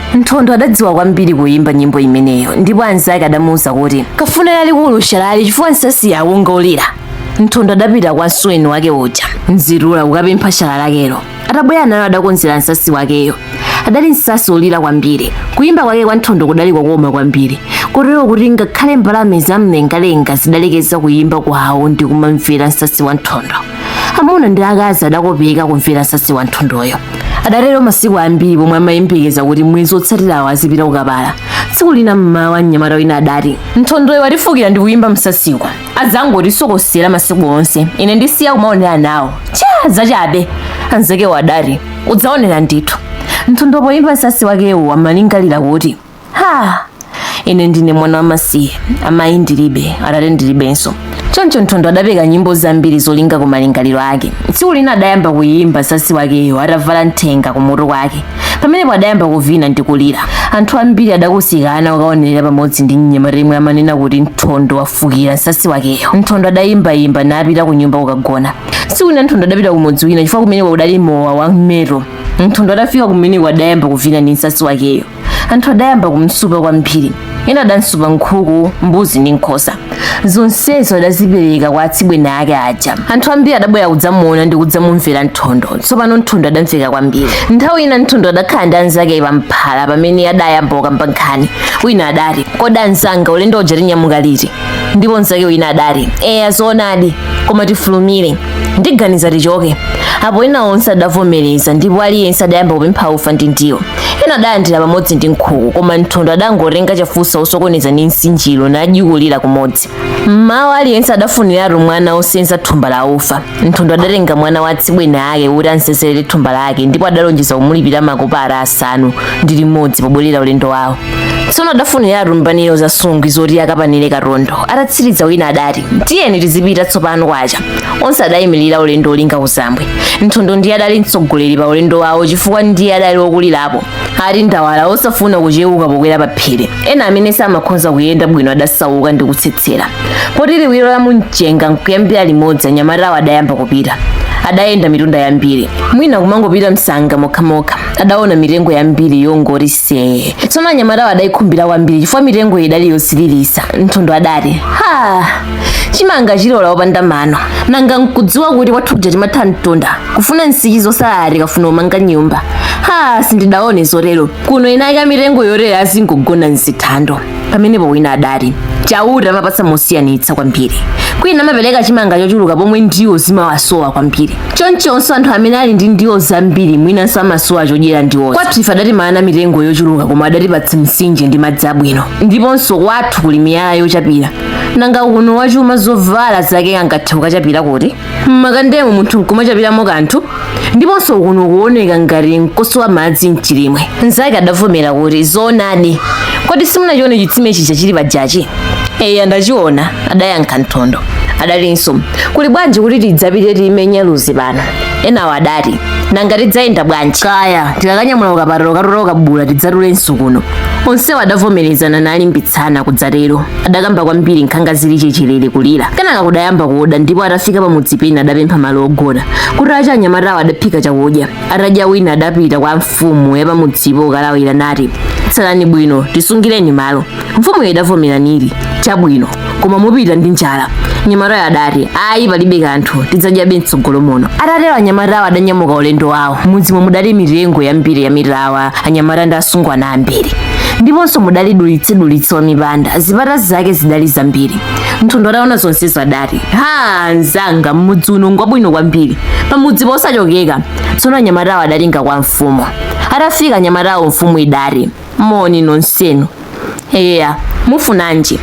nthondo adadziwa kwambiri kuyimba nyimbo imeneyo ndipo anzake adamuwuza kuti kafune lalikulu shalali chifukwa nsasi yawo ngolira nthondo adapita kwa msuweni wake uja mzirula kukapempha shala lakelo atabwera nalo adakonzera nsasi wakeyo adali nsasi olira kwambiri kuyimba kwake kwa nthondo kudali kokoma kwambiri kotero kuti ngakhale mbalame zamlengalenga zidalekeza kuyimba kwawo ndi kumamvera nsasi wa nthondo amuna ndi akazi adakopeka kumvera nsasi wa nthondoyo adatero masiku ambiri pomwe amayembekeza kuti mwezi otsatirawo azipita kukapala tsiku lina mmawa mnyamata wina adati nthondoyo watifukira ndi kuyimba msasiku adzangotisokosera masiku onse ine ndisiya kumaonera nawo cha zachabe anzakewo adati udzaonera ndithu nthondo poyimba msasi wakewo amalingalira kuti ha ine ndine mwana wamasiye amayi ndilibe atate ndilibenso choncho nthondo adapeka nyimbo zambiri zolinga ku malingaliro ake tsiku lina adayamba kuyimba sasi wakeyo atavala nthenga kumutu kwake pamenepo adayamba kuvina ndi kulira anthu ambiri adakusikana kukaonerera pamodzi ndi mnyamata yemwe amanena kuti nthondo wafukira sasi wakeyo nthondo adayimbayimba napita ku nyumba kukagona tsiku lina nthondo adapita kumudzi wina chifukwa kumeneko kudali mowa wa mmeto nthondo adafika kumeneko adayamba kuvina ndi msasi wakeyo anthu adayamba kumsupa kwambiri ena adamsupa nkhuku mbuzi ndi nkhosa zonsezo adazipereka kwa atsibweni ake aja anthu ambiri adabwera kudzamuona ndi kudzamumvera nthondo tsopano nthondo adamveka kwambiri nthawi ina nthondo adakhala ndi anzake pamphala pamene adayamba kukamba nkhani wina adati kodi anzanga ulendo uja tinyamuka liti ndipo nzake wina adati eya zoonadi koma tifulumire ndiganiza tichoke apo ena onse adavomereza ndipo aliyense adayamba kupempha ufa ndi ndiwo ena adalandira pamodzi ndi nkhuku koma nthondo adangotenga chafunsa osokoneza ndi nsinjiro najikulira kumodzi mmawa aliyense adafuniratu mwana osenza thumba la ufa nthondo adatenga mwana wa atsibweni ake kuti amsenzere thumba lake ndipo adalonjeza kumulipira makopara asanu ndi limodzi pobwerera ulendo wawo tsono adafuniratu mbaniro za nsungwi zoti akapanire katundu atatsiriza wina adati tiyeni tizipita tsopano kwacha onse adayimirira ulendo olinga kuzambwe nthondo ndiye adali mtsogoleri pa ulendo wawo chifukwa ndiye adali wokulirapo ali ndawala osafuna kuchewuka pokwera pa phiri ena amene samakhonza kuyenda bwino adasauka ndi kutsetsera poti liwiro la mumchenga nkuyambira limodzi anyamatawo adayamba kupita adayenda mitunda yambiri mwina kumangopita msanga mokhamokha adaona mitengo yambiri yongoti See. tsono anyamatawo adayikhumbira kwambiri chifukwa mitengo idali yosiririsa nthondo adati ha chimanga chilola opanda mano nanga nkudziwa kuti kwathu kuja timatha mtunda kufuna nsichi zosalala tikafuna umanga nyumba ha sindidaone zotero kuno inayika mitengo yotero azingogona mzithando pamenepo wina adati chauta amapatsa mosiyanitsa kwambiri kwina amapereka chimanga chochuluka pomwe ndiwo zimawasowa kwambiri chonchonso anthu amene ali ndi ndiwo zambiri mwinanso amasowa chodyera ndiwozo kwathu ife adatimana mitengo yochuluka koma adatipatsa mtsinje ndi madzi abwino ndiponso kwathu kuli miyala yochapira nanga kuno wachuma zovala zake angathe kukachapira kuti m'makandemo munthu nkumachapiramo kanthu ndiponso kuno kuoneka ngati nkosowa madzi mchilimwe mnzake adavomera kuti zoonadi kodi simunachione chitsime chija chili pajachi eya ndachiona adayankha nthondo adalinso kuli bwanji kuti tidzapite timenya luzi pano enawo adati nanga tidzayenda bwanji kaya tikakanyamula ukapatala ukatola ukabula tidzatulenso kuno onsewo adavomerezana nalimbitsana kudzatero adakamba kwambiri nkhanga zili chechelere kulira kenaka kudayamba kuda ndipo atafika pamudzi pena adapempha malo ogona kutacha anyamatawo adaphika chakudya atadya wina adapita kwa mfumu ya pamudzipo kukalawira nati tsalani bwino tisungireni malo mfumuyo idavomera nili chabwino koma mupita ndi njala mnyamatayo adati ayi palibe kanthu tidzadyabe mtsogolo muno atatero anyamatawo adanyamuka ulendo wawo m'mudzimo mudali mitengo yambiri ya mitawa anyamata ndi asungwana ambiri ndiponso mudali dulitsedulitse wa mipanda zipata zake zidali zambiri nthondo ataona zonsezo adati ha mzanga m'mudzi uno ngwabwino kwambiri pamudzi posachokeka tsono anyamatawo adalinga kwa mfumu atafika anyamatawo mfumu idati moni nonsenu eya mufunanji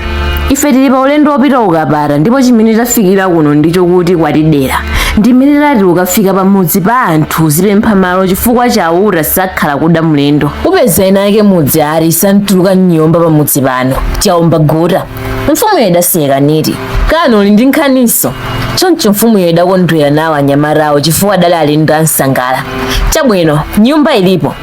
ife tili pa ulendo wopita ukapata ndipo chimene tafikira kuno ndicho kuti kwatidera ndimene tati ukafika pamudzi pa anthu uzipempha malo chifukwa chauta sakhala kuda mlendo upeza eni ake mudzi ali santuluka mnyumba pamudzi pano chaomba gota mfumuyo idaseka niti kani uli ndi nkhaniso choncho mfumuyo idakondwera nawo anyamatawo chifukwa adali alendo ansangala chabwino nyumba ilipo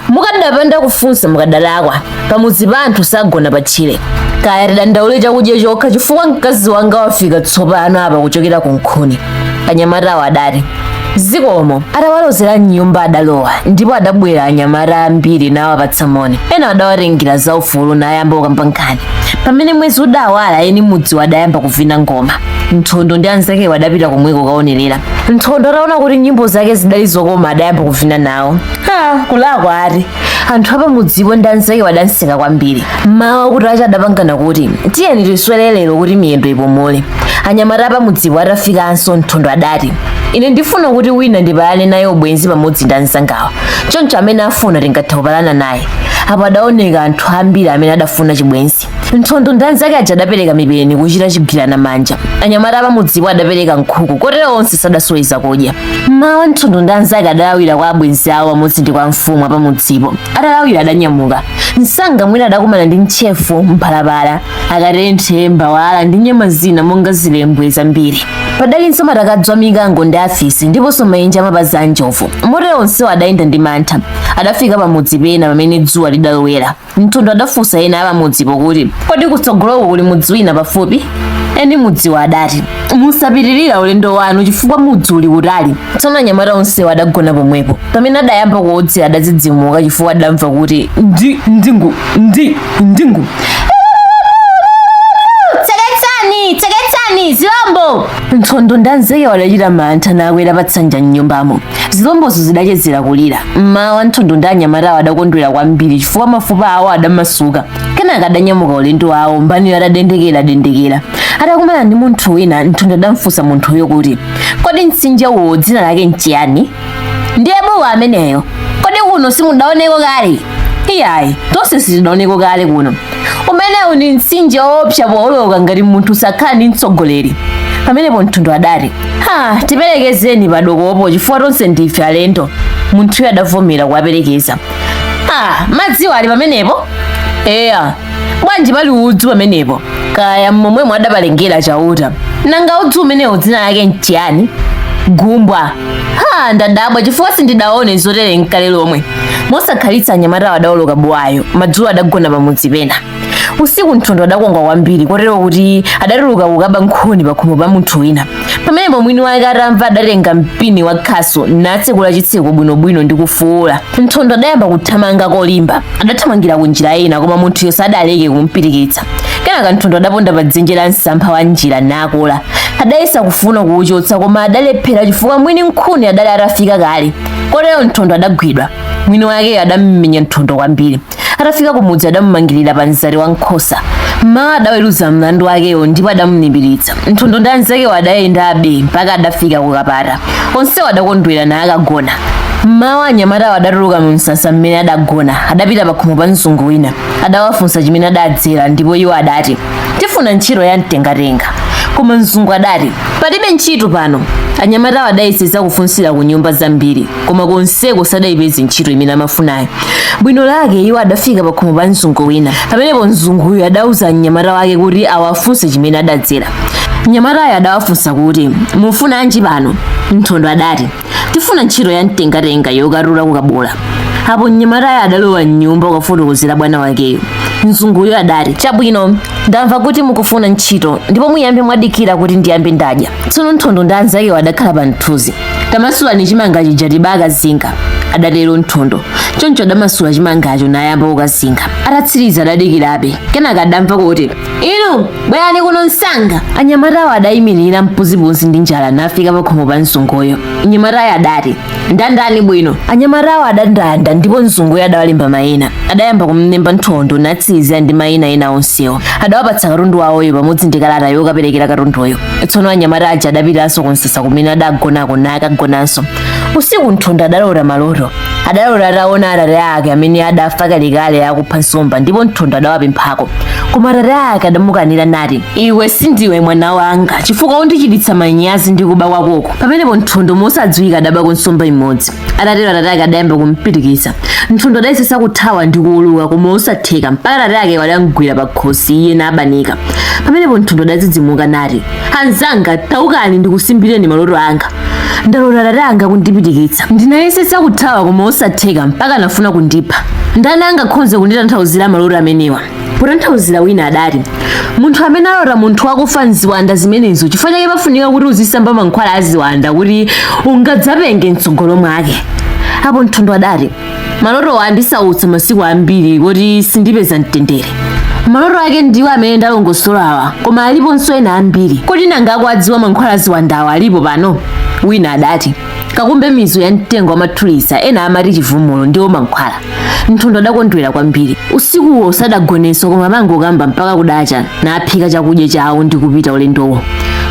mukadapanda kufunsa mukadalakwa pamudzi pa anthu sagona pa tchire kaya tidandaule chakudya chokha chifukwa mkazi wanga wafika tsopano apa kuchokera ku nkhuni anyamatawo adati zikomo atawalozera mnyumba adalowa ndipo adabwera anyamata ambiri nawapatsa moni ena adawatengera zaufulu nayamba kukamba nkhani pamene mwezi udawala eni mudziwo adayamba kuvina ngoma nthondo ndi anzakewo adapita komweko kaonerera nthondo ataona kuti nyimbo zake zidali zokoma adayamba kuvina nawo ha kulakwa ati anthu apamudzipo ndi anzakewo adamseka kwambiri mmawa kutacha adapangana kuti tiyeni tiswere lero kuti miyendo ipomole anyamata apamudzipo atafikanso nthondo adati ine ndifuna kuti wina ndipalane naye ubwenzi pamodzi ndi anzangawa choncho amene afuna tingathe kupalana naye apo adaoneka anthu ambiri amene adafuna chibwenzi Nthondo ndi anzake aja adapereka mipeni kuchita chigwirana manja. Anyamata apamudzipo adapereka nkhuku, kotero onse sadasowe zakudya. Mmawa Nthondo ndi anzake adalawira kwa abwenzi awo pamodzi ndi kwa mfumu apamudzipo. Atalawira adanyamuka. Msanga mwina adakumana ndi ntchefu, mphalapala, akatenthe, mbawala ndi nyama zina monga zilembwe zambiri. Padalinso matakadzi a mikango ndi afisi ndiponso maenje a mapazi a njovu. Motero onsewo adayenda ndi mantha. Adafika pamudzi pena pamene dzuwa lidalowera. Nthondo adafunsa ena apamudzipo kuti, Kodi kutsogoloko kuli mudzi wina pafupi? Eni mudziwo adati, Musapitirira ulendo wanu chifukwa mudzi uli kutali. Tsono anyamata onsewo adagona pomwepo. Pamene adayamba kuwodzera adadzidzimuka chifukwa adamva kuti ndi ndingu ndi ndingu tseketsani tseketsani zilombo Nthondo ndi anzakewo adachita mantha nakwera patsanja m'nyumbamo zilombozo zidachezera kulira mmawa nthondo ndi anyamatawo adakondwera kwambiri chifukwa mafupa awo adamasuka kenaka adanyamuka ulendo wawo mbaniyo adadendekera dendekera atakumana ndi munthu wina nthondo adamfunsa munthuyo kuti kodi mtsinje uwo dzina lake nchiyani ndiye buwa ameneyo kodi kuno simudaoneko kale iyayi tonse sitinaoneko kale kuno umenewu ndi mtsinje woopsa pooloka ngati munthu sakhala ndi mtsogoleri pamenepo nthondo adati ha tiperekezeni padokopo chifukwa tonse ndife alendo munthuyo adavomera kuwaperekeza ha madziwo ali pamenepo eya bwanji pali udzu pamenepo kaya momwemo adapalengera chauta nanga udzu umenewu dzina lake nchiyani gumbwa ha ndadabwa chifukwa sindidaone zotere nkale lomwe mosakhalitsa anyamata adaoloka buwayo madzulo adagona pamudzi pena usiku nthondo adakongwa kwambiri kotero kuti adatuluka kukaba nkhuni pakhomo pa munthu wina pamenepo mwini wake atamva adatenga mpini wa khasu natsekula chitseko bwinobwino ndi kufuula nthondo adayamba kuthamanga kolimba adathamangira ku njira ina koma munthuyo sadaleke kumpitikitsa kenaka nthondo adaponda pa dzenje la msampha wa njira nakola adayesa kufuna kuuchotsa koma adalephera chifukwa mwini nkhuni adali atafika kale kotero nthondo adagwidwa mwini wakeyo adammenya nthondo kwambiri atafika kumudzi adamumangirira pa mzati wa nkhosa mmawa adaweruza mlandu wakewo ndipo adamulipiritsa nthondo ndi anzakewo adayendabe mpaka adafika kukapata onsewo adakondwera nakagona mmawa anyamatawo adatuluka mu msasa mmene adagona adapita pakhomo pa mzungu wina adawafunsa chimene adadzera ndipo iwo adati tifuna ntchito ya mtengatenga koma mzungu adati palibe ntchito pano anyamatawo adayesesa kufunsira ku nyumba zambiri koma konseko sadayipeze ntchito imene amafunayo bwino lake iwo adafika pakhomo pa mzungu wina pamenepo mzunguyo adauza mnyamata wake kuti awafunse chimene adadzera mnyamatayo adawafunsa kuti mufunanji pano nthondo adati tifuna ntchito ya mtengatenga yokarura kukabola apo mnyamatayo adalowa mnyumba kukafotokozera bwana wakeyo mzunguyo adati chabwino ndamva kuti mukufuna ntchito ndipo muyambe mwadikira kuti ndiyambe ndadya tsono nthondo ndi anzakewo adakhala pa mthunzi tamasulani chimanga chija tibakazinga adatero nthondo choncho adamasula chimangacho nayamba kukazinga atatsiriza adadikirabe kenaka adamva kuti inu bwerani kuno msanga anyamatawo adayimirira mpuzipuzi ndi njala nafika pakhomo pa mzunguyo mnyamatayo adati ndandani bwino anyamatawo adandanda ndipo mzunguyo adawalemba mayina adayamba kumlemba nthondo natsirizira ndi mayina ena onsewo adawapatsa katundu wawoyo pamodzi ndi kalata yokaperekera katunduyo tsono anyamata aja adapitanso kunsasa kumene adagonako nakagonanso usiku nthondo adalota maloto adalota ataona atate ake amene adafa kalekale akupha nsomba ndipo nthondo adawapemphako koma atate ake adamukanira nati iwe sindiwe mwana wanga chifukwa undichititsa manyazi ndi kuba kwakoko pamenepo nthondo mosadziwika adabako nsomba imodzi atatero atate ake adayamba kumpirikitsa nthondo adayesesa kuthawa ndi kuuluka koma osatheka mpaka atate ake adamgwira pa khosi iye nabanika pamenepo nthondo adadzidzimuka nati anzanga taukani ndikusimbireni maloto anga ndalota atate anga kundipirikitsa ndinayesesa kuthawa koma osatheka mpaka anafuna kundipha ndani angakhoze kunditanthauzira maloto amenewa potanthauzira wina adati munthu amene alota munthu wakufa nziwanda zimenezo chifukwa chake pafunika kuti uzisamba mankhwala aziwanda kuti ungadzapenge mtsogolo mwake apo nthondo adati maloto andisautsa masiku ambiri kuti sindipeza mtendere maloto ake ndiwo amene ndalongosolawa koma aliponso ena ambiri kodi nanga akuwadziwa mankhwala aziwandawa alipo pano wina adati kakumbe mizu ya mtengo wamathulisa ena amati chivumulo ndiwo mankhwala nthondo adakondwera kwambiri usikuwo sadagonenso koma amangokamba mpaka kudacha naphika chakudya chawo ndi kupita ulendowo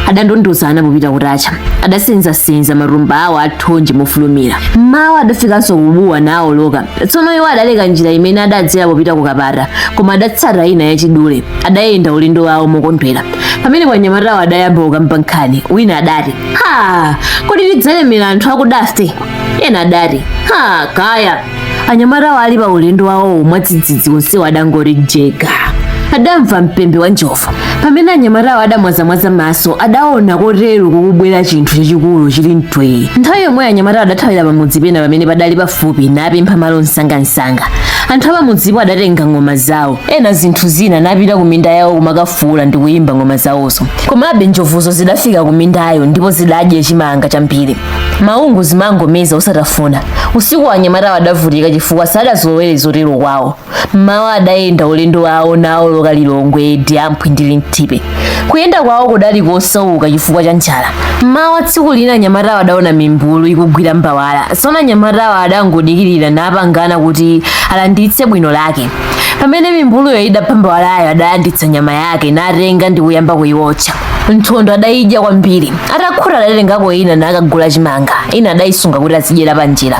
adandondozana popita kutacha adasenzasenza matumba awo athonje mofulumira mmawa adafikanso kubuwa nawoloka tsono iwo adaleka njira imene adadzera popita kukapata koma adatsata ina yachidule adayenda ulendo wawo mokondwera pamene anyamatawo adayamba kukamba nkhani wina adati ha kodi tidzalemera anthu akudafe ena adati ha kaya anyamatawo ali pa ulendo wawowo mwadzidzidzi onsewo adangoti jega adamva mpembe wa njovu pamene anyamatawo adamwazamwaza maso adaona kuteroko kukubwera chinthu chachikulu chili mtwee nthawi yomweyo anyamatawo adathawira pamudzi pena pamene padali pafupi napempha malo msangamsanga anthu apamudzipo adatenga ng'oma zawo ena zinthu zina napita ku minda yawo kumakafuula ndi kuyimba ng'oma zawozo komabe njovuzo zidafika ku mindayo ndipo zidadya chimanga chambiri maungu zimangomeza osatafuna usiku anyamatawo adavutika chifukwa sadazolowere zotero kwawo mmawa adayenda ulendo wawo nawoloka lilongwe diamphwi ndi linthipe kuyenda kwawo kudali kosauka chifukwa cha njala mmawa tsiku lina anyamatawo adaona mimbulu ikugwira mbawala tsono anyamatawo adangodikirira napangana kuti alanditse bwino lake pamene mimbuluyo idapha mbawalayo adalanditsa nyama yake natenga ndi kuyamba kuyiwotcha nthondo adayidya kwambiri atakhuta adatengako ina nakagula chimanga ina adayisunga kuti azidyera panjira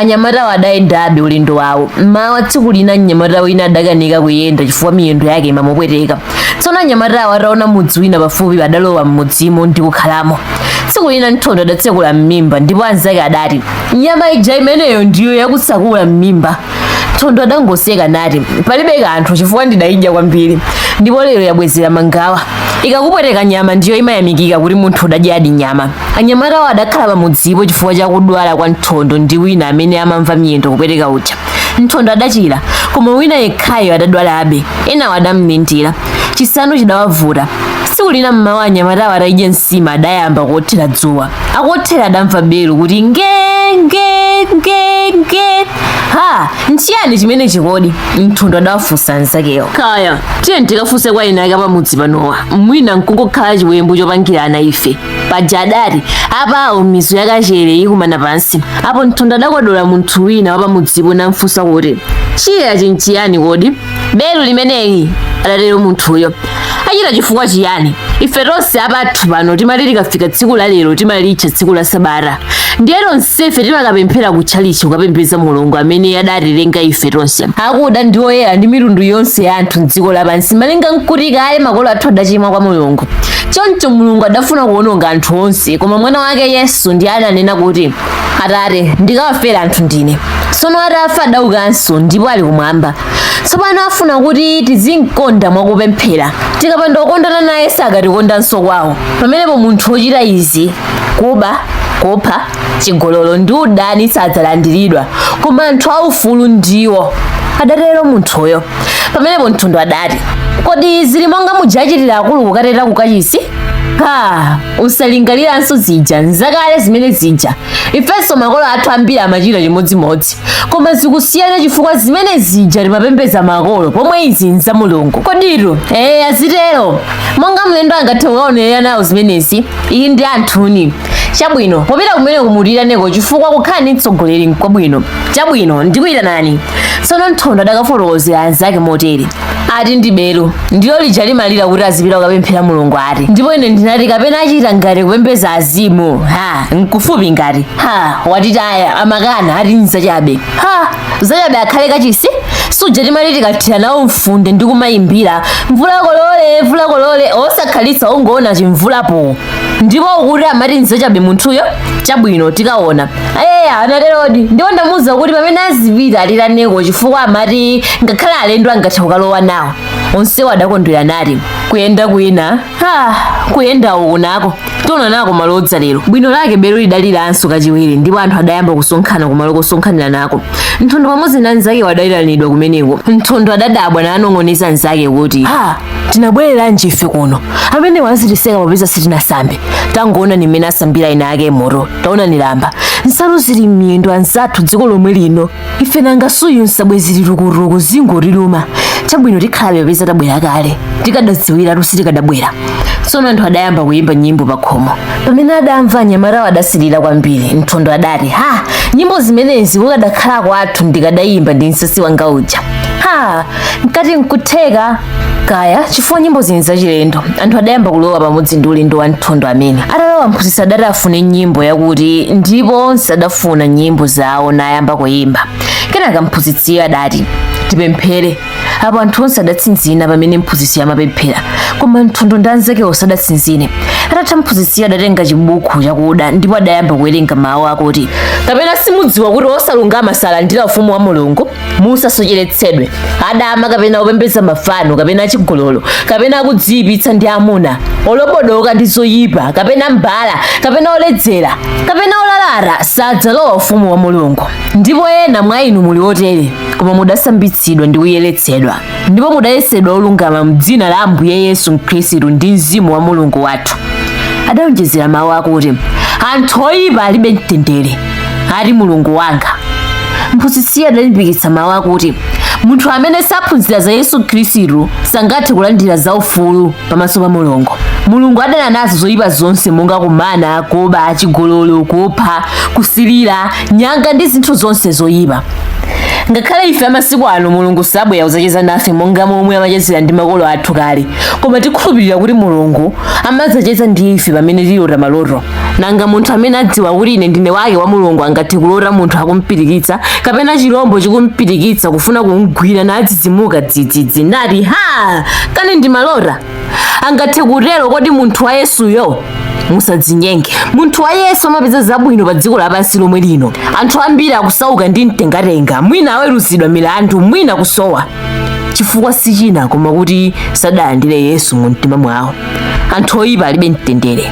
anyamatawo adayendabe ulendo wawo mmawa tsiku lina mnyamata wina adakanika kuyenda chifukwa miyendo yake imamupweteka tsono anyamatawo ataona mudzi wina pafupi adalowa mmudzimo ndi kukhalamo tsiku lina nthondo adatsekula m'mimba ndipo anzake adati nyama ija imeneyo ndiyo yakutsekula m'mimba nthondo adangoseka nati palibe kanthu chifukwa ndidayidya kwambiri ndipo lero yabwezera mangawa ikakupweteka nyama ndiyo imayamikika kuti munthu udadyadi nyama anyamatawo adakhala pamudzipo chifukwa cha kudwala kwa nthondo ndi wina amene amamva miyendo kupweteka uja nthondo adachira koma wina yekhayo adadwalabe enawo adamlindira chisanu chidawavuta tsiku lina mmawa anyamatawo atadya nsima adayamba kuothera dzuwa akuothera adamva belu kuti nge nge nge nge ha nchiyani chimenechi kodi nthondo adawafunsa anzakewo kaya tiye tikafunse kwa ena ake pamudzi panowa mwina nkungokhala chiwembu chopangirana ife paja adati apawo ndi mizu yakachere ikumana pansi apo nthondo adakodola munthu wina wapamudzipo namfunsa kuti chija nchiyani kodi belu limeneli adatero munthuyo achita chifukwa chiyani ife tonse apathu pano timati likafika tsiku la lero timalitcha tsiku la sabata ndiye tonsefe timakapemphera ku tchalichi kukapembedza mulungu amene adatilenga ife tonse akuda ndi oyera ndi mitundu yonse ya anthu mdziko lapansi malinga nkuti kale makolo athu adachimwa kwa mulungu choncho mulungu adafuna kuwononga anthu onse koma mwana wake yesu ndiye adanena kuti Atate, ndikawafera anthu ndine. Tsono atafa adaukanso ndipo ali kumwamba. Tsopano afuna kuti tizimkonda mwa kupemphera. Tikapanda kukondana naye sakatikondanso kwawo. Pamenepo munthu wochita izi, kuba, kupha, chigololo ndi udani sadzalandiridwa, koma anthu aufulu ndiwo. Adatero munthuyo. Pamenepo Nthondo adati, Kodi zili monga muja achitira akulu kukateta kukachisi? ha usalingaliranso zija nzakale zimene zija ifenso makolo athu ambiri amachita chimodzimodzi koma zikusiyana chifukwa zimene zija timapembedza makolo pomwe izi nza mulungu koditu ee azitero monga mlendo angathe kukaonerera nawo zimenezi iyi ndi anthuni chabwino popita kumeneko mutiyitaneko chifukwa kukhala ndi mtsogoleri nkwabwino chabwino ndikuyitanani tsono nthondo adakafotokozera anzake motere ati ndi belu ndilo lija limalira kuti azipita kukapemphera mulungu ati ndipo ine ndinati kapena achita ngati kupembedza azimu ha nkufupi ngati ha watitaya amakana ati nzachabe ha zachabe akhale kachisi suja timati tikathira nawo mfunde ndi kumayimbira mvula kolole mvula kolole osakhalitsa ungoona chimvulapo ndipo ukuti amati nzachabe munthuyo chabwino tikaona eya anaterodi ndipo ndamuwuza kuti pamene azipita atiyitaneko chifukwa amati ngakhale alendo angathe kukalowa nawo onsewo adakondwera nati kuyenda kwina ha kuyenda uku nako tiona nako malo odzalero bwino lake belu lidaliranso kachiwiri ndipo anthu adayamba kusonkhana kumalo kosonkhanira nako nthondo pamodzi na anzakewo adayitanidwa kumeneko nthondo adadabwa nanong'oneza nzake kuti ha tinabwereranji ife kuno amenewa azitiseka popeza sitinasambe tangoonani mmene asambira ena ake moto taonani lamba nsalu zili m'miyendo anzathu dziko lomwe lino ife nanga suyu nsabwe zili tukutuku zingotiluma chabwino tikhalabe popeza tabwera kale tikadadziwiratu sitikadabwera tsono anthu adayamba kuyimba nyimbo pakhomo pamene adamva anyamatawo adasilira kwambiri nthondo adati ha nyimbo zimenezi kukadakhala kwathu ndikadayimba ndi nsasi wanga uja ha mkati nkutheka kaya chifukwa nyimbozi nzachilendo anthu adayamba kulowa pamodzi ndi ulendo wa nthondo amene atalowa mphunzitsi adati afune nyimbo yakuti ndipo onse adafuna nyimbo zawo nayamba kuyimba kenaka mphunzitsiyo adati tipemphere apo anthu onse adatsinzina pamene mphunzitsi amapemphera koma nthondo ndi anzakewo sadatsinzine atatha mphunzitsiyo adatenga chibuku chakuda ndipo adayamba kuwerenga mawu akuti kapena simudziwa kuti osalungama salandira ufumu wa mulungu musasocheretsedwe adama kapena opembedza mafano kapena achigololo kapena akudziyipitsa ndi amuna olobodoka ndi zoyipa kapena mbala kapena oledzera kapena olalata sadzalowa ufumu wa mulungu ndipo ena mwa inu muli otere koma mudasambitsidwa ndi kuyeretsedwa ndipo mudayesedwa olungama m'dzina la ambuye yesu khristu ndi mzimu wa mulungu wathu adawonjezera mawu akuti anthu oyipa alibe mtendere ati mulungu wanga mphunzitsiyo adalimbikitsa mawu akuti munthu amene saphunzira za yesu khristu sangathe kulandira za ufulu pamaso pa mulungu mulungu adana nazo zoyipa zonse monga kumana kuba chigololo kupha kusilira nyanga ndi zinthu zonse zoyipa ngakhale ife amasiku ano mulungu sabwera kudzacheza nafe monga momwe amachezera ndi makolo athu kale koma tikhulupirira kuti mulungu amadzacheza ndi ife pamene tilota maloto nanga munthu amene adziwa kuti ine ndine wake wa mulungu angathe kulota munthu akumpitikitsa kapena chilombo chikumpitikitsa kufuna kumgwira nadzidzimuka dzidzidzi nati ha kani ndimalota angathe kutero kodi munthu wa yesuyo musadzinyenge munthu wa yesu amapeza zabwino pa dziko lapansi lomwe lino anthu ambiri akusauka ndi mtengatenga mwina aweruzidwa milandu mwina kusowa chifukwa si china koma kuti sadalandire yesu mu mtima mwawo anthu oyipa alibe mtendere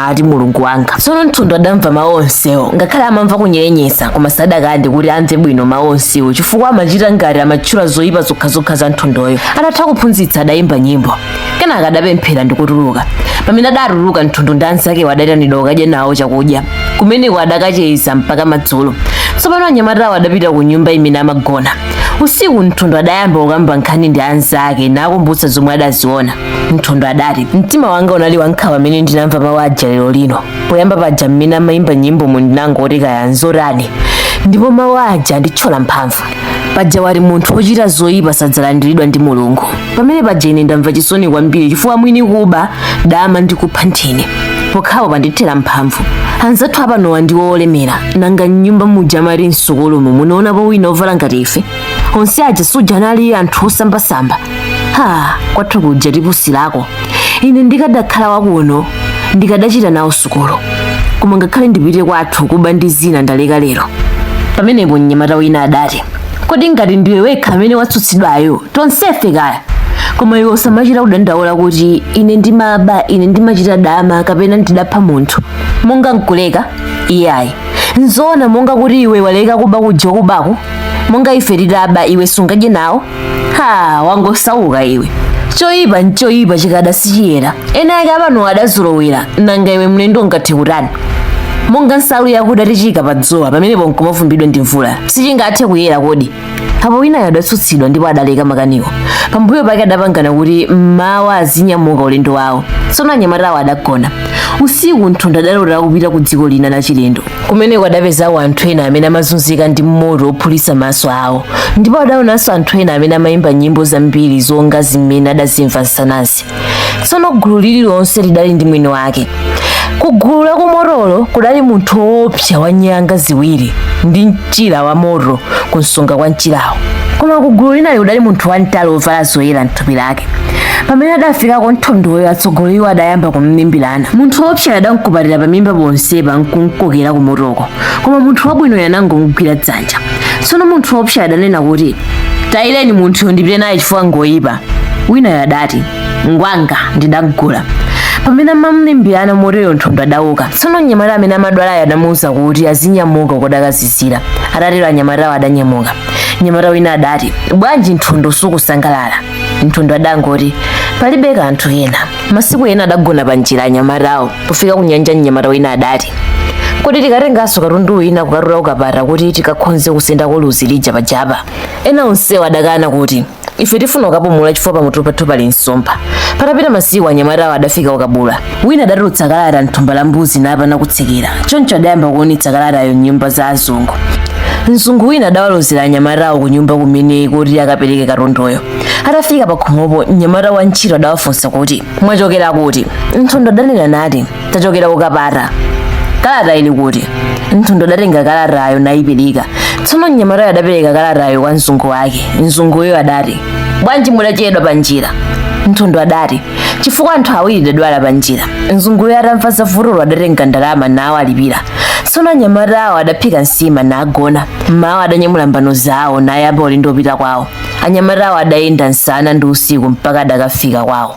ati mulungu wanga tsono mthondo adamva mawu onsewo ngakhale amamva kunyerenyesa koma sadakande kuti amve bwino mawu onsewo chifukwa amachita ngati amatchula zoyipa zokhazokha za mthondoyo atatha kuphunzitsa adayimba nyimbo kenaka adapemphera ndi kutuluka pamene adatuluka mthondo ndi anzakewo adayitanidwa kukadya nawo chakudya kumeneko adakacheza mpaka madzulo tsopano anyamatawo adapita ku nyumba imene amagona usiku mthondo adayamba kukamba nkhani ndi anzake nakumbutsa zomwe adaziona mthondo adati mtima wanga unali wankhawa mmene ndinamva mawu aja lero lino poyamba paja mmene amayimba nyimbo mu ndinangoti kaya nzotani ndipo mawu aja anditchola mphamvu paja wati munthu wochita zoyipa sadzalandiridwa ndi mulungu pamene paja ine ndamva chisoni kwambiri chifukwa mwini kuba dama ndi kupha nthini pokhawo pandithera mphamvu anzathu apanowa ndiwo olemera nanga mnyumba muja amati msukulumu munaonapo wina ovala ngati ife onse aja suja anali anthu osambasamba ha kwathu kuja tipusilako ine ndikadakhala wakuno ndikadachita nawo sukulu koma ngakhale ndipite kwathu kuba ndi zina ndaleka lero pamenepo mnyamata wina adati kodi ngati ndiwe wekha amene watsutsidwayo tonsefe kaya koma iwe usamachita kudandaula kuti ine ndimaba ine ndimachita dama kapena ndidapha munthu monga nkuleka iyayi nzoona monga kuti iwe waleka kuba kuja kubako monga ife titaba iwe sungadye nawo ha wangosauka iwe choyipa nchoyipa chikada sichiyera eni ake apano adazolowera nanga iwe mlendo ungathe kutani monga nsalu yakuda tichiyika pa dzuwa pamenepo nkumavumbidwa ndi mvula sichingathe kuyera kodi apo winayo adatsutsidwa ndipo adaleka makaniwo pambuyo pake adapangana kuti mmawa azinyamuka ulendo wawo tsono anyamatawo adagona usiku mthondo adalotera kupita ku dziko lina la chilendo kumeneko adapezako anthu ena amene amazunzika ndi moto wophulitsa maso awo ndipo adaonanso anthu ena amene amayimba nyimbo zambiri zonga zimene adazimva msanazi tsono gulu lililonse lidali ndi mwini wake ku gulu la kumotolo kudali munthu woopsa wa nyanga ziwiri ndi mchira wa moto kunsonga kwa mchirawo koma ku gulu linali kudali munthu wamtali wovala zoyera mthupi lake pamene adafikako nthondoyo atsogoleriwo adayamba kumlimbirana munthu woopsa adamkupatira pamimba ponsepa nkumkokera kumotoko koma munthu wabwinoyo anangomugwira dzanja tsono munthu woopsa adanena kuti tayireni munthuyo ndipite naye chifukwa ngoyipa winayo adati ngwanga ndidagula pamene amamlimbirana moteyo nthondo adauka tsono mnyamata amene amadwalayo adamuwuza kuti azinyamuka kudakazizira atatero anyamatawo adanyamuka mnyamata wina adati bwanji nthondo sukusangalala nthondo adangoti palibe kanthu kena masiku ena adagona pa njira anyamatawo pofika ku nyanja mnyamata wina adati kodi tikatenganso katundu wina kukatula ku kapata kuti tikakhonze kusendako luzi lija pajapa ena onsewo adakana kuti ife tifuna kukapumula chifukwa pamutu pathu pali nsomba patapita masiku anyamatawo adafika ku kabula wina adatulutsa kalata mthumba la mbuzi napana ku tsekera choncho adayamba kuonetsa kalatayo mnyumba za azungu mzungu wina adawalozera anyamatawo ku nyumba kumene kuti akapereke katunduyo atafika pakhomopo mnyamata wa ntchito adawafunsa kuti mwachokera kuti nthondo adanena nati tachokera ku kapata kalata ili kuti nthondo adatenga kalatayo nayipereka tsono mnyamatayo adapereka kalatayo kwa mzungu wake mzunguyo adati bwanji mudachedwa pa njira nthondo adati chifukwa anthu awiri adadwala pa njira mzunguyo atamva za vutolo adatenga ndalama nawalipira tsono anyamatawo adaphika nsima nagona mmawa adanyamula mbano zawo nayamba ulendo wopita kwawo anyamatawo adayenda nsana ndi usiku mpaka adakafika kwawo